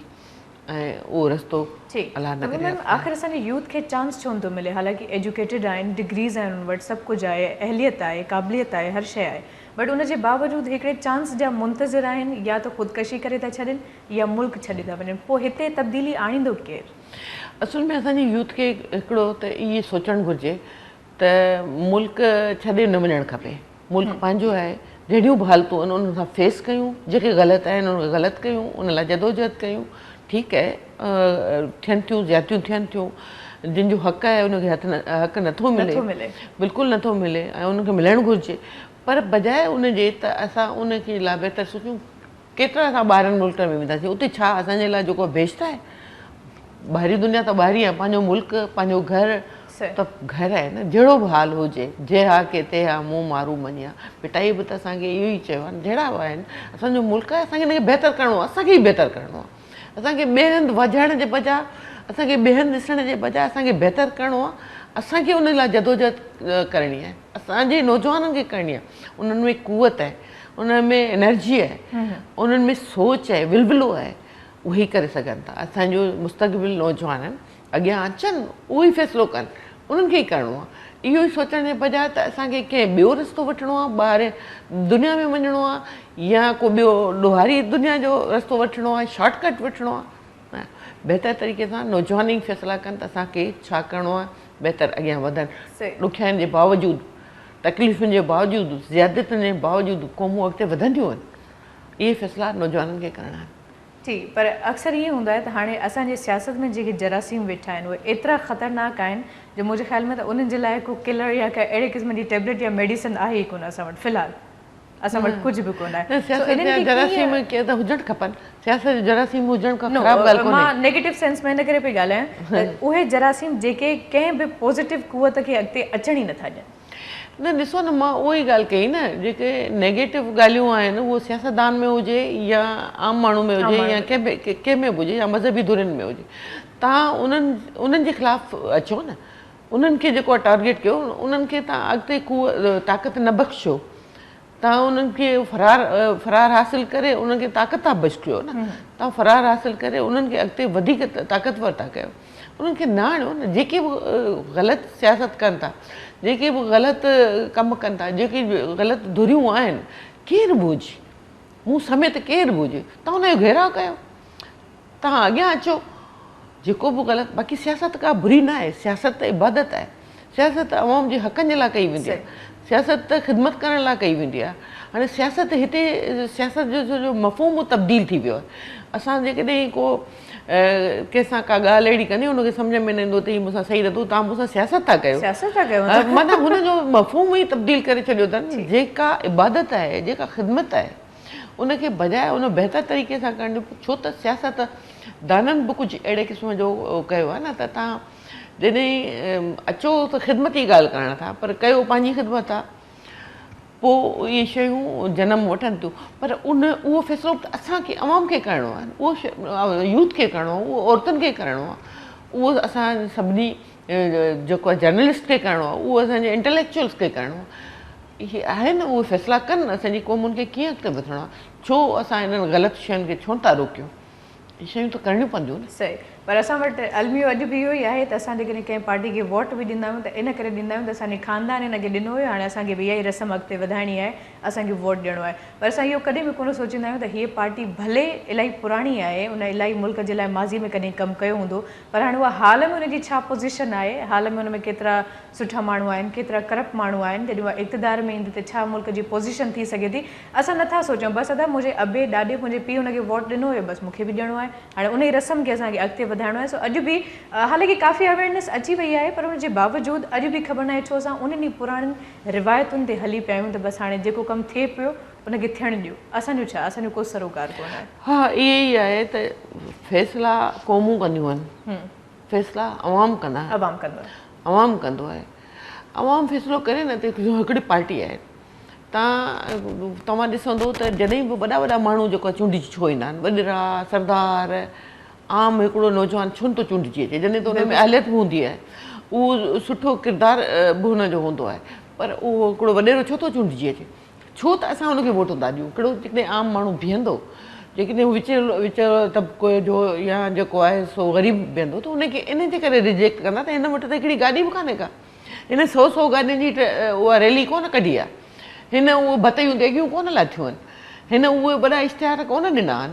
۽ اهو رستو ٺيڪ الله نه ڪري ميم آخر اسان جي يوٿ کي چانس ڇو نٿو ملي حالانڪه ايجوڪيٽيڊ آهن ڊگريز آهن انهن وٽ سڀ ڪجهه آهي اهليت آهي قابليت آهي هر شئي آهي بٽ ان جي باوجود هڪڙي چانس جا منتظر آهن يا ته خودڪشي ڪري ٿا ڇڏين يا ملڪ ڇڏي ٿا وڃن پوء هتي تبديلي آڻيندو ڪير؟ اصل ۾ اسان جي يوٿ کي هڪڙو ته اهي سوچڻ گهرجي ته ملڪ ڇڏي نه وڃڻ کپي ملڪ پنهنجو آهي جهڙيون به حالتون آهن انهن سان فيس ڪيون جيڪي غلط آهن انهن کي غلط ڪيون ان لاء جدوجهد ڪيون ٺيڪ آهي ٿين ٿيون زيادتيون ٿين ٿيون جن جو حق آهي انهن کي هٿ حق نٿو ملي بلڪل نٿو ملي ۽ انهن کي ملڻ گهرجي پر بجاء ان جي ته اسان ان جي لاء بهتر سوچون ڪيترا اسان ٻاهرن ملڪن ۾ وينداسين اتي ڇا اسان جي لاء جيڪو بيسٽ آهي ٻاهرين دنيا ته ٻاهرين آهي پنهنجو ملڪ پنهنجو گهر ته گهر آهي نه جهڙو به حال هجي جي ها ڪي تي ها مون مارو مڃيا ڀٽائي به ته اسان کي اهو ئي چيو آهي جهڙا به آهن اسان جو ملڪ آهي اسان کي ان کي بهتر ڪرڻو آهي اسان کي ئي بهتر ڪرڻو آهي اسان کي ٻئي هنڌ وجهڻ جي بجاء اسان کي ٻئي هنڌ ڏسڻ جي بجاء اسان کي بهتر ڪرڻو آهي اسان کي ان لاء جدوجهد ڪرڻي آهي اسان جي نوجوانن کي ڪرڻي آهي انهن ۾ قوت آهي انهن ۾ انرجي آهي، انهن ۾ سوچ آهي، ولولو آهي، اهي ئي ڪري سگهن ٿا. اسان جو مستقبل نوجوانن اڳيان اچن، اهو ئي فيصلو ڪن، انهن کي ئي ڪرڻو آهي. اهو ئي سوچڻ جي بجاء ته اسان کي ڪنهن ٻيو رستو وٺڻو آهي، ٻاهر دنيا ۾ وڃڻو آهي يا ڪو ٻيو ڏوهاري دنيا جو رستو وٺڻو آهي، شارٽ ڪٽ وٺڻو آهي. بهتر طريقي سان نوجوان ئي فيصلا ڪن ته اسان کي ڇا ڪرڻو آهي، بهتر اڳيان وڌن، ڏکيائين جي باوجود تڪليفن جي باوجود، زيادتين جي باوجود قومون اڳتي وڌنديون وڃن، اهي فيصلا نوجوانن کي ڪرڻا آهن. ٺيڪ، پر اڪثر ائين هوندو آهي ته هاڻي اسان جي سياست ۾ جيڪي جراثيم ويٺا آهن، اهي ايترا خطرناڪ آهن جو منهنجي خيال ۾ ته انهن جي لاء ڪو ڪلر يا ڪا اهڙي قسم جي ٽيبليٽ يا ميڊيسن آهي ئي ڪونه اسان وٽ في الحال. اسان وٽ ڪجهه به ڪونه آهي سياست جا جراثيم ڪي ته هجڻ کپن سياست جا جراثيم هجڻ ڪا خراب ڳالهه ڪونهي مان نيگيٽو سينس ۾ ان ڪري پئي ڳالهايان ته اهي جراثيم جيڪي ڪنهن به پوزيٽو قوت کي اڳتي اچڻ ئي نٿا ڏين نه ڏسو نه مان اهو ئي ڳالهه ڪئي نه جيڪي نيگيٽو ڳالهيون آهن اهو سياستدان ۾ هجي يا عام ماڻهو ۾ هجي يا ڪنهن به ڪنهن ۾ به هجي يا مذهبي ڌرين ۾ هجي تان انهن انهن جي خلاف اچو نه انهن کي جيڪو آهي ٽارگيٽ ڪيو انهن کي تان اڳتي قو طاقت نه بخشيو تان انهن کي فرار فرار حاصل ڪري انهن کي طاقت ٿا بخشيو نه تان فرار حاصل ڪري انهن کي اڳتي وڌيڪ طاقتور ٿا ڪيو انهن کي نه آڻيو نه جيڪي به غلط سياست ڪن ٿا جيڪي به غلط ڪم ڪن ٿا جيڪي غلط ڌريون آهن ڪير به هجي مون سميت ڪير به هجي تان ان جو گهيراء ڪيو توهان اڳيان اچو جيڪو به غلط باقي سياست ڪا بري نه آهي سياست ته عبادت آهي سياست ته عوام جي حقن جي لاء ڪئي ويندي آهي سياست ته خدمت ڪرڻ لاء ڪئي ويندي آهي هاڻي سياست هتي سياست جو سڄو مفهوم هو تبديل ٿي ويو آهي اسان جيڪڏهن ڪو ڪنهن سان ڪا ڳالهه اهڙي ڪندي ان کي سمجهه ۾ نه ايندو ته هي مون سان صحيح نه ٿو توهان مون سان سياست ٿا ڪيو سياست ٿا ڪيو مطلب هن جو مفهوم ئي تبديل ڪري ڇڏيو اٿن جيڪا عبادت آهي جيڪا خدمت آهي ان کي بجاء ان بهتر طريقي سان ڪرڻ جو ڇو ته سياست دانن به ڪجهه اهڙي قسم جو ڪيو آهي نه ته توهان جڏهن اچو ته خدمت جي ڳالهه ڪرڻ ٿا پر ڪيو پنهنجي خدمت آهي پوء اهي شيون جنم وٺن ٿيون پر ان اهو فيصلو به اسان کي عوام کي ڪرڻو آهي اهو يوٿ کي ڪرڻو آهي اهو عورتن کي ڪرڻو آهي اهو اسان سڀني جيڪو جرنلسٽ کي ڪرڻو آهي اهو اسانجي انٽليڪچوئلس کي ڪرڻو آهي اهي آهن نه اهي فيصلا ڪن نه اسان جي قومن کي ڪيئن اڳتي وڌڻو آهي ڇو اسان انهن غلط شين کي ڇو ٿا روڪيون اهي شيون ته ڪرڻيون پونديون نه. صحيح پر اسان وٽ الميو اڄ به اهو ئي آهي ته اسان جيڪڏهن ڪنهن پارٽي کي ووٽ به ڏيندا آهيون ته ان ڪري ڏيندا آهيون ته اسان جي خاندان هن کي ڏنو هيو هاڻي اسان کي به اها ئي رسم اڳتي وڌائڻي آهي اسان کي ووٽ ڏيڻو آهي پر اسان اهو ڪڏهن به ڪونه سوچيندا آهيون ته هيء پارٽي ڀلي الائي پراڻي آهي ان الائي ملڪ جي لاء ماضي ۾ ڪڏهن ڪم ڪيو هوندو پر هاڻي اها حال ۾ ان جي ڇا پوزيشن آهي حال ۾ ان ۾ ڪيترا سٺا ماڻهو آهن ڪيترا ڪرپٽ ماڻهو آهن جڏهن اها اقتدار ۾ ايندي ته ڇا ملڪ جي پوزيشن ٿي سگهي ٿي اسان نٿا سوچون بس ادا منهنجي ابي ڏاڏي منهنجي پي ان کي ووٽ ڏنو هيو بس مون کي به ڏيڻو آهي هاڻي انهي رسم کي اسان کي اڳتي وڌائڻو آهي سو اڄ به حالانڪه ڪافي اويرنس اچي وئي آهي پر ان جي باوجود اڄ به خبر ناهي ڇو اسان انهن ئي پراڻين روايتن تي هلي پيا آهيون ته بس هاڻي جيڪو ڪم ٿئي پيو ان کي ٿيڻ ڏيو اسان جو ڇا اسان جو ڪو سروڪار ڪونه آهي. ها اهي ئي آهي ته فيصلا قومون ڪنديون آهن. فيصلا عوام ڪندا آهن. عوام ڪندو آهي. عوام ڪندو آهي. عوام فيصلو ڪري نه ته هڪڙي پارٽي آهي. تان توهان ڏسندو ته جڏهن به وڏا وڏا ماڻهو جيڪو چونڊجي ڇو ايندا آهن وڏڙا سردار عام هڪڙو نوجوان ڇو نٿو چونڊجي اچي جڏهن ته ان ۾ اهليت به هوندي آهي اهو سٺو ڪردار به ان جو هوندو آهي پر اهو هڪڙو وڏيرو ڇو ٿو چونڊجي اچي. ڇو ته اسان هن کي ووٽون ٿا ڏيون. ڪهڙو جيڪڏهن عام ماڻهو بيهندو، جيڪڏهن هو وچ وچ طبقي جو يا جيڪو آهي سو غريب بيهندو ته هن کي ان جي ڪري ريجيڪٽ ڪندا ته هن وٽ ته هڪڙي گاڏي به ڪانهي ڪا. هن سو سو گاڏين جي اها ريلي ڪونه ڪڍي آهي. هن اهي ڀتيون ديڳيون ڪونه لاتيون آهن. هن اهي وڏا اشتهار ڪونه ڏنا آهن.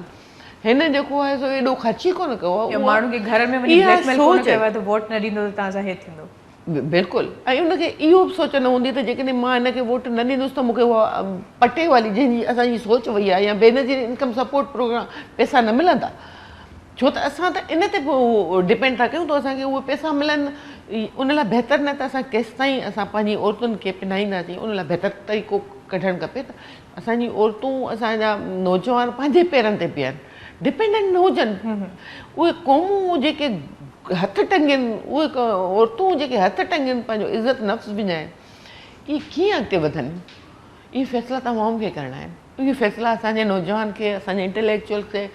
هن جيڪو آهي سو ايڏو خرچ ئي ڪونه ڪيو آهي. يا ماڻهن کي گهرن ۾ وڃي بليڪ ميل ڪونه ڪيو آهي ته ووٽ نه ڏيندو ته تان سان هي ٿيندو. بلڪل ۽ ان کي اهو به سوچ نه هوندي ته جيڪڏهن مان هن کي ووٽ نه ڏيندس ته مون کي اها پٽي واري جنهن جي اسان جي سوچ وئي آهي يا بينظير انڪم سپورٽ پروگرام پئسا نه ملندا ڇو ته اسان ته ان تي ڊپينڊ ٿا ڪيون ته اسان کي اهي پئسا ملن ان لاء بهتر نه ته اسان ڪيستائين اسان پنهنجي عورتن کي پنهائينداسين ان لاء بهتر طريقو ڪڍڻ کپي ته اسان جي عورتون اسان جا نوجوان پنهنجي پيرن تي بيهن ڊپينڊنٽ نه هجن اهي قومون جيڪي هٿ ٽنگين اهي عورتون جيڪي هٿ ٽنگين پنهنجو عزت نفس وڃائين اهي ڪيئن اڳتي وڌن اهي فيصلا توهان عوام کي ڪرڻا آهن اهي فيصلا اسان جي نوجوان کي اسان جي انٽليڪچوئل کي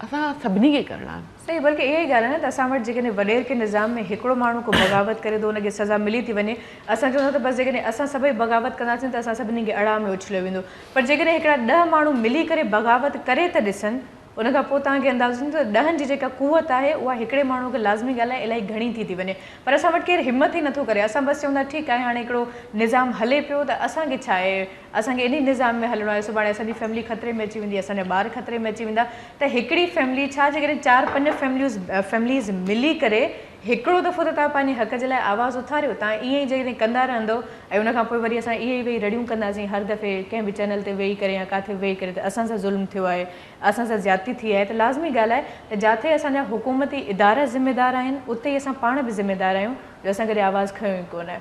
اسان سڀني کي ڪرڻا آهن. صحيح بلڪه اها ئي ڳالهه آهي نه ته اسان وٽ جيڪڏهن وڏير ڪنهن نظام ۾ هڪڙو ماڻهو ڪو بغاوت ڪري ٿو ان کي سزا ملي ٿي وڃي اسان چئون ٿا ته بس جيڪڏهن اسان سڀئي بغاوت ڪنداسين ته اسان سڀني کي اڙاء ۾ اڇليو ويندو پر جيڪڏهن هڪڙا ڏهه ماڻهو ملي ڪري بغاوت ڪري ته ڏسن ان کان پوء توهان کي اندازو ٿيندو ته ڏهن جي جيڪا قوت آهي اها هڪڙي ماڻهو کي لازمي ڳالهه آهي الائي گهڻي ٿي ٿي وڃي پر اسان وٽ ڪير همت ئي نٿو ڪري اسان بس چئون ٿا ٺيڪ آهي هاڻي هڪڙو نظام هلي پيو ته اسان کي ڇا آهي اسان کي انهي نظام ۾ هلڻو آهي سڀاڻي اسان جي فيملي خطري ۾ اچي ويندي اسان جا ٻار خطري ۾ اچي ويندا ته هڪڙي فيملي ڇا جيڪڏهن چار پنج فيمليوز فيمليز ملي ڪري هڪڙو دفعو ته توهان پنهنجي حق جي لاء آواز اٿاريو توهان ائين ئي جيڪڏهن ڪندا رهندو ۽ ان کان پوء وري اسان ائين ئي ويهي رڙيون ڪنداسين هر دفعي ڪنهن به چينل تي ويهي ڪري يا ڪاٿي به ويهي ڪري ته اسان سان ظلم ٿيو آهي اسان سان زيادتي ٿي آهي ته لازمي ڳالهه آهي ته جاٿي اسان جا حڪومتي ادارا ذميدار آهن اتي ئي اسان پاڻ به ذميدار آهيون جو اسان ڪڏهن آواز کنيو ئي ڪونه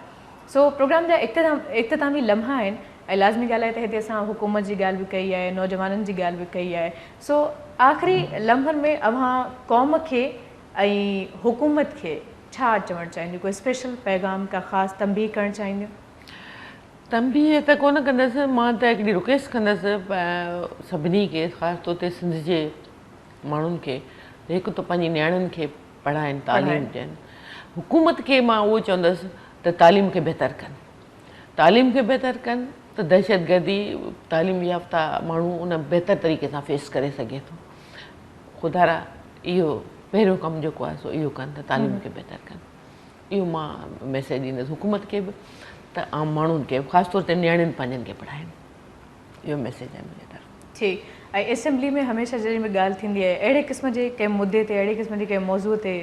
سو پروگرام جا اختتامي لمحا آهن ۽ لازمي ڳالهه آهي ته هتي اسان حڪومت جي ڳالهه به ڪئي آهي، نوجوانن جي ڳالهه به ڪئي آهي، سو آخري لمحن ۾ اوهان قوم کي ۽ حڪومت کي ڇا چوڻ چاهينديون؟ ڪو اسپيشل پيغام، ڪا خاص تنبيهه ڪرڻ چاهينديون؟ تنبيهه ته ڪونه ڪندس، مان ته هڪڙي رڪويسٽ ڪندس سڀني کي خاص طور تي سنڌ جي ماڻهن کي ته هڪ ته پنهنجي نياڻين کي پڙهائين، تعليم ڏين، حڪومت کي مان اهو چوندس ته تعليم کي بهتر ڪن. تعليم کي بهتر ڪن ته دهشتگردي تعليم يافته ماڻهو ان بهتر طريقي سان فيس ڪري سگهي ٿو خدارا اهو پهريون ڪم جيڪو آهي سو اهو ڪن ته تعليم کي بهتر ڪن اهو مان ميسيج ڏيندس حڪومت کي به ته عام ماڻهن کي خاص طور تي نياڻين پنهنجن کي پڙهائين اهو ميسيج آهي منهنجي طرف ٺيڪ ۽ اسيمبلي ۾ هميشه جڏهن به ڳالهه ٿيندي آهي اهڙي قسم جي ڪنهن مدي تي اهڙي قسم جي ڪنهن موضوع تي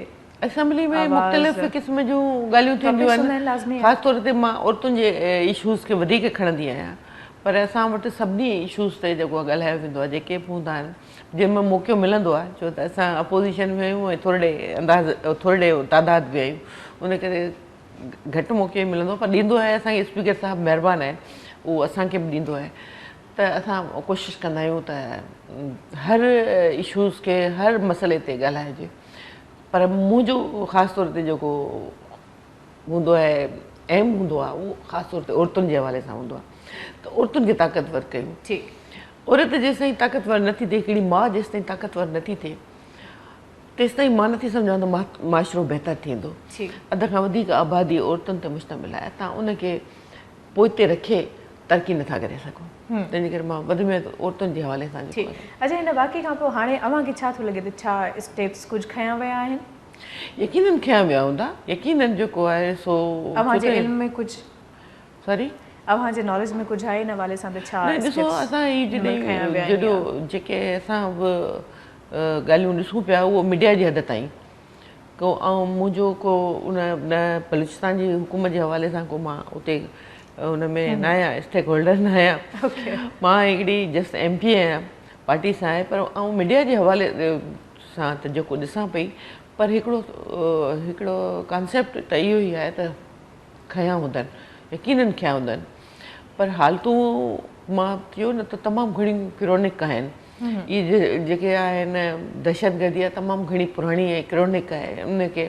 اسيمبلي ۾ مختلف قسم جون ڳالهيون ٿينديون آهن خاص طور تي مان عورتن جي ايشوز کي وڌيڪ کڻندي آهيان پر اسان وٽ سڀني ايشوز تي جيڪو آهي ڳالهايو ويندو آهي جيڪي به هوندا آهن جن ۾ موقعو ملندو آهي ڇو ته اسان اپوزيشن ۾ آهيون ۽ ٿورڙي انداز ٿورڙي تعداد ۾ آهيون ان ڪري گهٽ موقعو ملندو پر ڏيندو آهي اسان کي اسپيڪر صاحب مهربان آهن اهو اسان کي به ڏيندو آهي ته اسان ڪوشش ڪندا آهيون ته هر ايشوز کي هر مسئلي تي ڳالهايو جي پر منهنجو خاص طور تي جيڪو هوندو آهي ايم هوندو آهي اهو خاص طور تي عورتن جي حوالي سان هوندو آهي ته عورتن کي طاقتور ڪيون عورت جيستائين طاقتور نٿي ٿئي هڪڙي ماء جيستائين طاقتور نٿي ٿئي تيستائين مان نٿي سمجهان ته معاشرو بهتر ٿيندو اڌ کان وڌيڪ آبادي عورتن تي مشتمل آهي تان ان کي پوئتي رکي ترقي نٿا ڪري سگهون تنهنجي ڪري مان وڌ ۾ وڌ عورتن جي حوالي سان جيڪو آهي. اچا هن واقعي کان پوء هاڻي اوهان کي ڇا ٿو لڳي ته ڇا اسٽيپس ڪجهه کنيا ويا آهن؟ يقينن کنيا ويا هوندا يقينن جيڪو آهي سو اوهان جي علم ۾ ڪجهه سوري اوهان جي ناليج ۾ ڪجهه آهي ان حوالي سان ته ڇا اسٽيپس کنيا ويا آهن جيڪي اسان به ڳالهيون ڏسون پيا اهو ميڊيا جي حد تائين ڪو آئون منهنجو ڪو ان نه بلوچستان جي حڪومت جي حوالي سان ڪو مان اتي ان ۾ نه آهيان اسٽيڪ هولڊر نه آهيان مان هڪڙي جسٽ ايم پي آهيان پارٽي سان آهي پر آئون ميڊيا جي حوالي سان ته جيڪو ڏسان پئي پر هڪڙو هڪڙو ڪانسيپٽ ته اهو ئي آهي ته کنيا هوندن يقينن کنيا هوندن پر حالتون مان چيو نه ته تمام گهڻيون ڪرونڪ آهن اهي جيڪي آهن دهشتگردي اها تمام گهڻي پراڻي ۽ ڪرونڪ آهي ان کي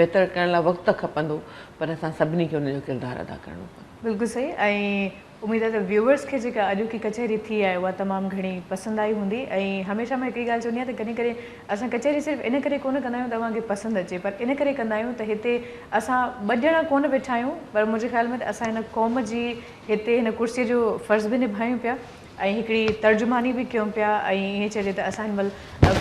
بهتر ڪرڻ لاء وقت ته کپندو پر اسان سڀني کي ان جو ڪردار ادا ڪرڻو پوندو. بلڪل صحيح ۽ اميد آهي ته ويوورس کي جيڪا اڄوڪي ڪچهري ٿي آهي اها تمام گهڻي پسند آئي هوندي ۽ هميشه مان هڪڙي ڳالهه چوندي آهيان ته ڪڏهن ڪڏهن اسان ڪچهري صرف ان ڪري ڪونه ڪندا آهيون ته اوهان کي پسند اچي پر ان ڪري ڪندا آهيون ته هتي اسان ٻه ڄڻا ڪونه ويٺا آهيون پر منهنجي خيال ۾ ته اسان هن قوم جي هتي هن ڪرسي جو فرض به نڀايون پيا ۽ هڪڙي ترجماني به ڪيون پيا ۽ ائين چئجي ته اسان هن مهل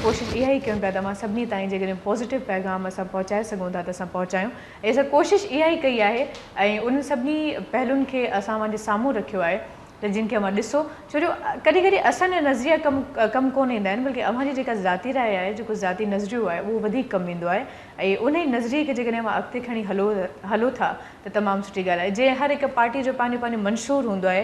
ڪوشش اها ئي ڪيون پيا ته اوهان سڀني تائين جيڪڏهن پازيٽو پيغام اسان پهچائي سگهون ٿا ته اسان پهچايون ۽ اسان ڪوشش اها ئي ڪئي آهي ۽ انهن سڀني پهلون کي اسان اوهان جي سامهون رکيو آهي ته جن کي اوهان ڏسو ڇو جو ڪڏهن ڪڏهن اسان جا نظريا ڪم ڪم ڪونه ايندا آهن بلڪه اوهان جي جيڪا ذاتي راء آهي جيڪو ذاتي نظريو آهي اهو وڌيڪ ڪم ايندو آهي ۽ انهي نظريي کي جيڪڏهن اوهان اڳتي کڻي هلو هلو ٿا ته تمام سٺي ڳالهه آهي جيئن هر هڪ پارٽي جو پنهنجو پنهنجو منشور هوندو آهي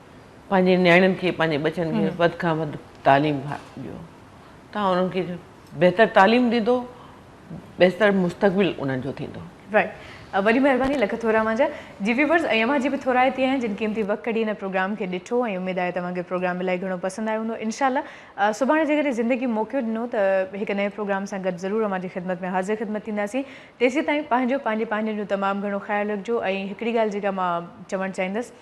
پنهنجي نياڻين کي پنهنجي ٻچن کي وڌ کان وڌ تعليم ڏيو تان انهن کي بهتر تعليم ڏيندو بهتر مستقبل انهن جو ٿيندو. رائٽ وڏي مهرباني لک ٿورا اوهان جا جي ويورز ۽ اوهان جي به ٿورائتي آهي جن قيمتي وقت ڪڍي هن پروگرام کي ڏٺو ۽ اميد آهي ته اوهان کي پروگرام الائي گهڻو پسند آيو هوندو انشاء الله سڀاڻي جيڪڏهن زندگي موقعو ڏنو ته هڪ نئين پروگرام سان گڏ ضرور اوهان جي خدمت ۾ حاضر خدمت ٿينداسين تيسيتائين پنهنجو پنهنجي پنهنجن جو تمام گهڻو خيال رکجو ۽ هڪڙي ڳالهه جيڪا مان چوڻ چاهيندس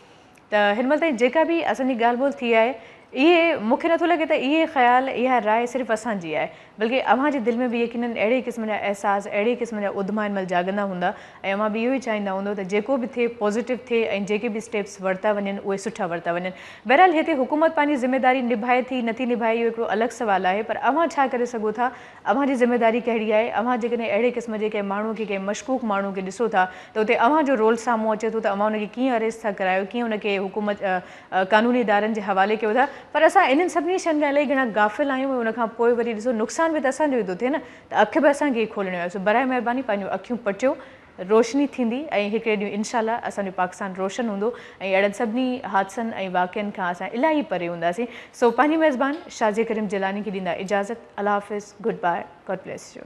ته هن مهل تائين جيڪا به اسان جي ڳالهه ٻولهه ٿي آهي اهي مون کي نٿو لڳي ته اهي خيال اها راء صرف اسان جي آهي بلڪه اوهان جي دل ۾ به يقينن اهڙي قسم جا احساس اهڙي قسم جا اڌما هن مهل جاڳندا هوندا ۽ اوهان به اهو ئي چاهيندا هوندو ته جيڪو به ٿئي پوزيٽو ٿئي ۽ جيڪي به اسٽيپس ورتا وڃن اهي سٺا ورتا وڃن بهرحال هتي حڪومت پنهنجي ذميداري نڀائي ٿي نٿي نڀائي اهو هڪڙو الڳ سوال آهي پر اوهان ڇا ڪري سگهو ٿا اوهان جي ذميواري ڪهڙي آهي؟ اوهان جيڪڏهن اهڙي قسم جي ڪنهن ماڻهو کي، ڪنهن مشڪوڪ ماڻهو کي ڏسو ٿا ته اتي اوهان جو رول سامهون اچي ٿو ته اوهان ان کي ڪيئن اريسٽ ٿا ڪرايو، ڪيئن ان کي حڪومت قانوني ادارن جي حوالي ڪيو ٿا. پر اسان انهن سڀني شين کان الائي گهڻا غافل آهيون ۽ ان کان پوء وري ڏسو نقصان به ته اسان جو ئي ٿو ٿئي نه ته اک به اسان کي ئي کولڻيون آهي سو برائي مهرباني پنهنجون اکيون پٽيو روشني ٿيندي ۽ هڪڙي ڏينهن انشاء الله اسان جو پاڪستان روشن هوندو ۽ اهڙن سڀني حادثن ۽ واقعن کان اسان الاهي پري هونداسين سو پنهنجي ميزبان شاھ جي ڪريم جيلاني کي ڏيندا اجازت الله حافظ good bye God bless U.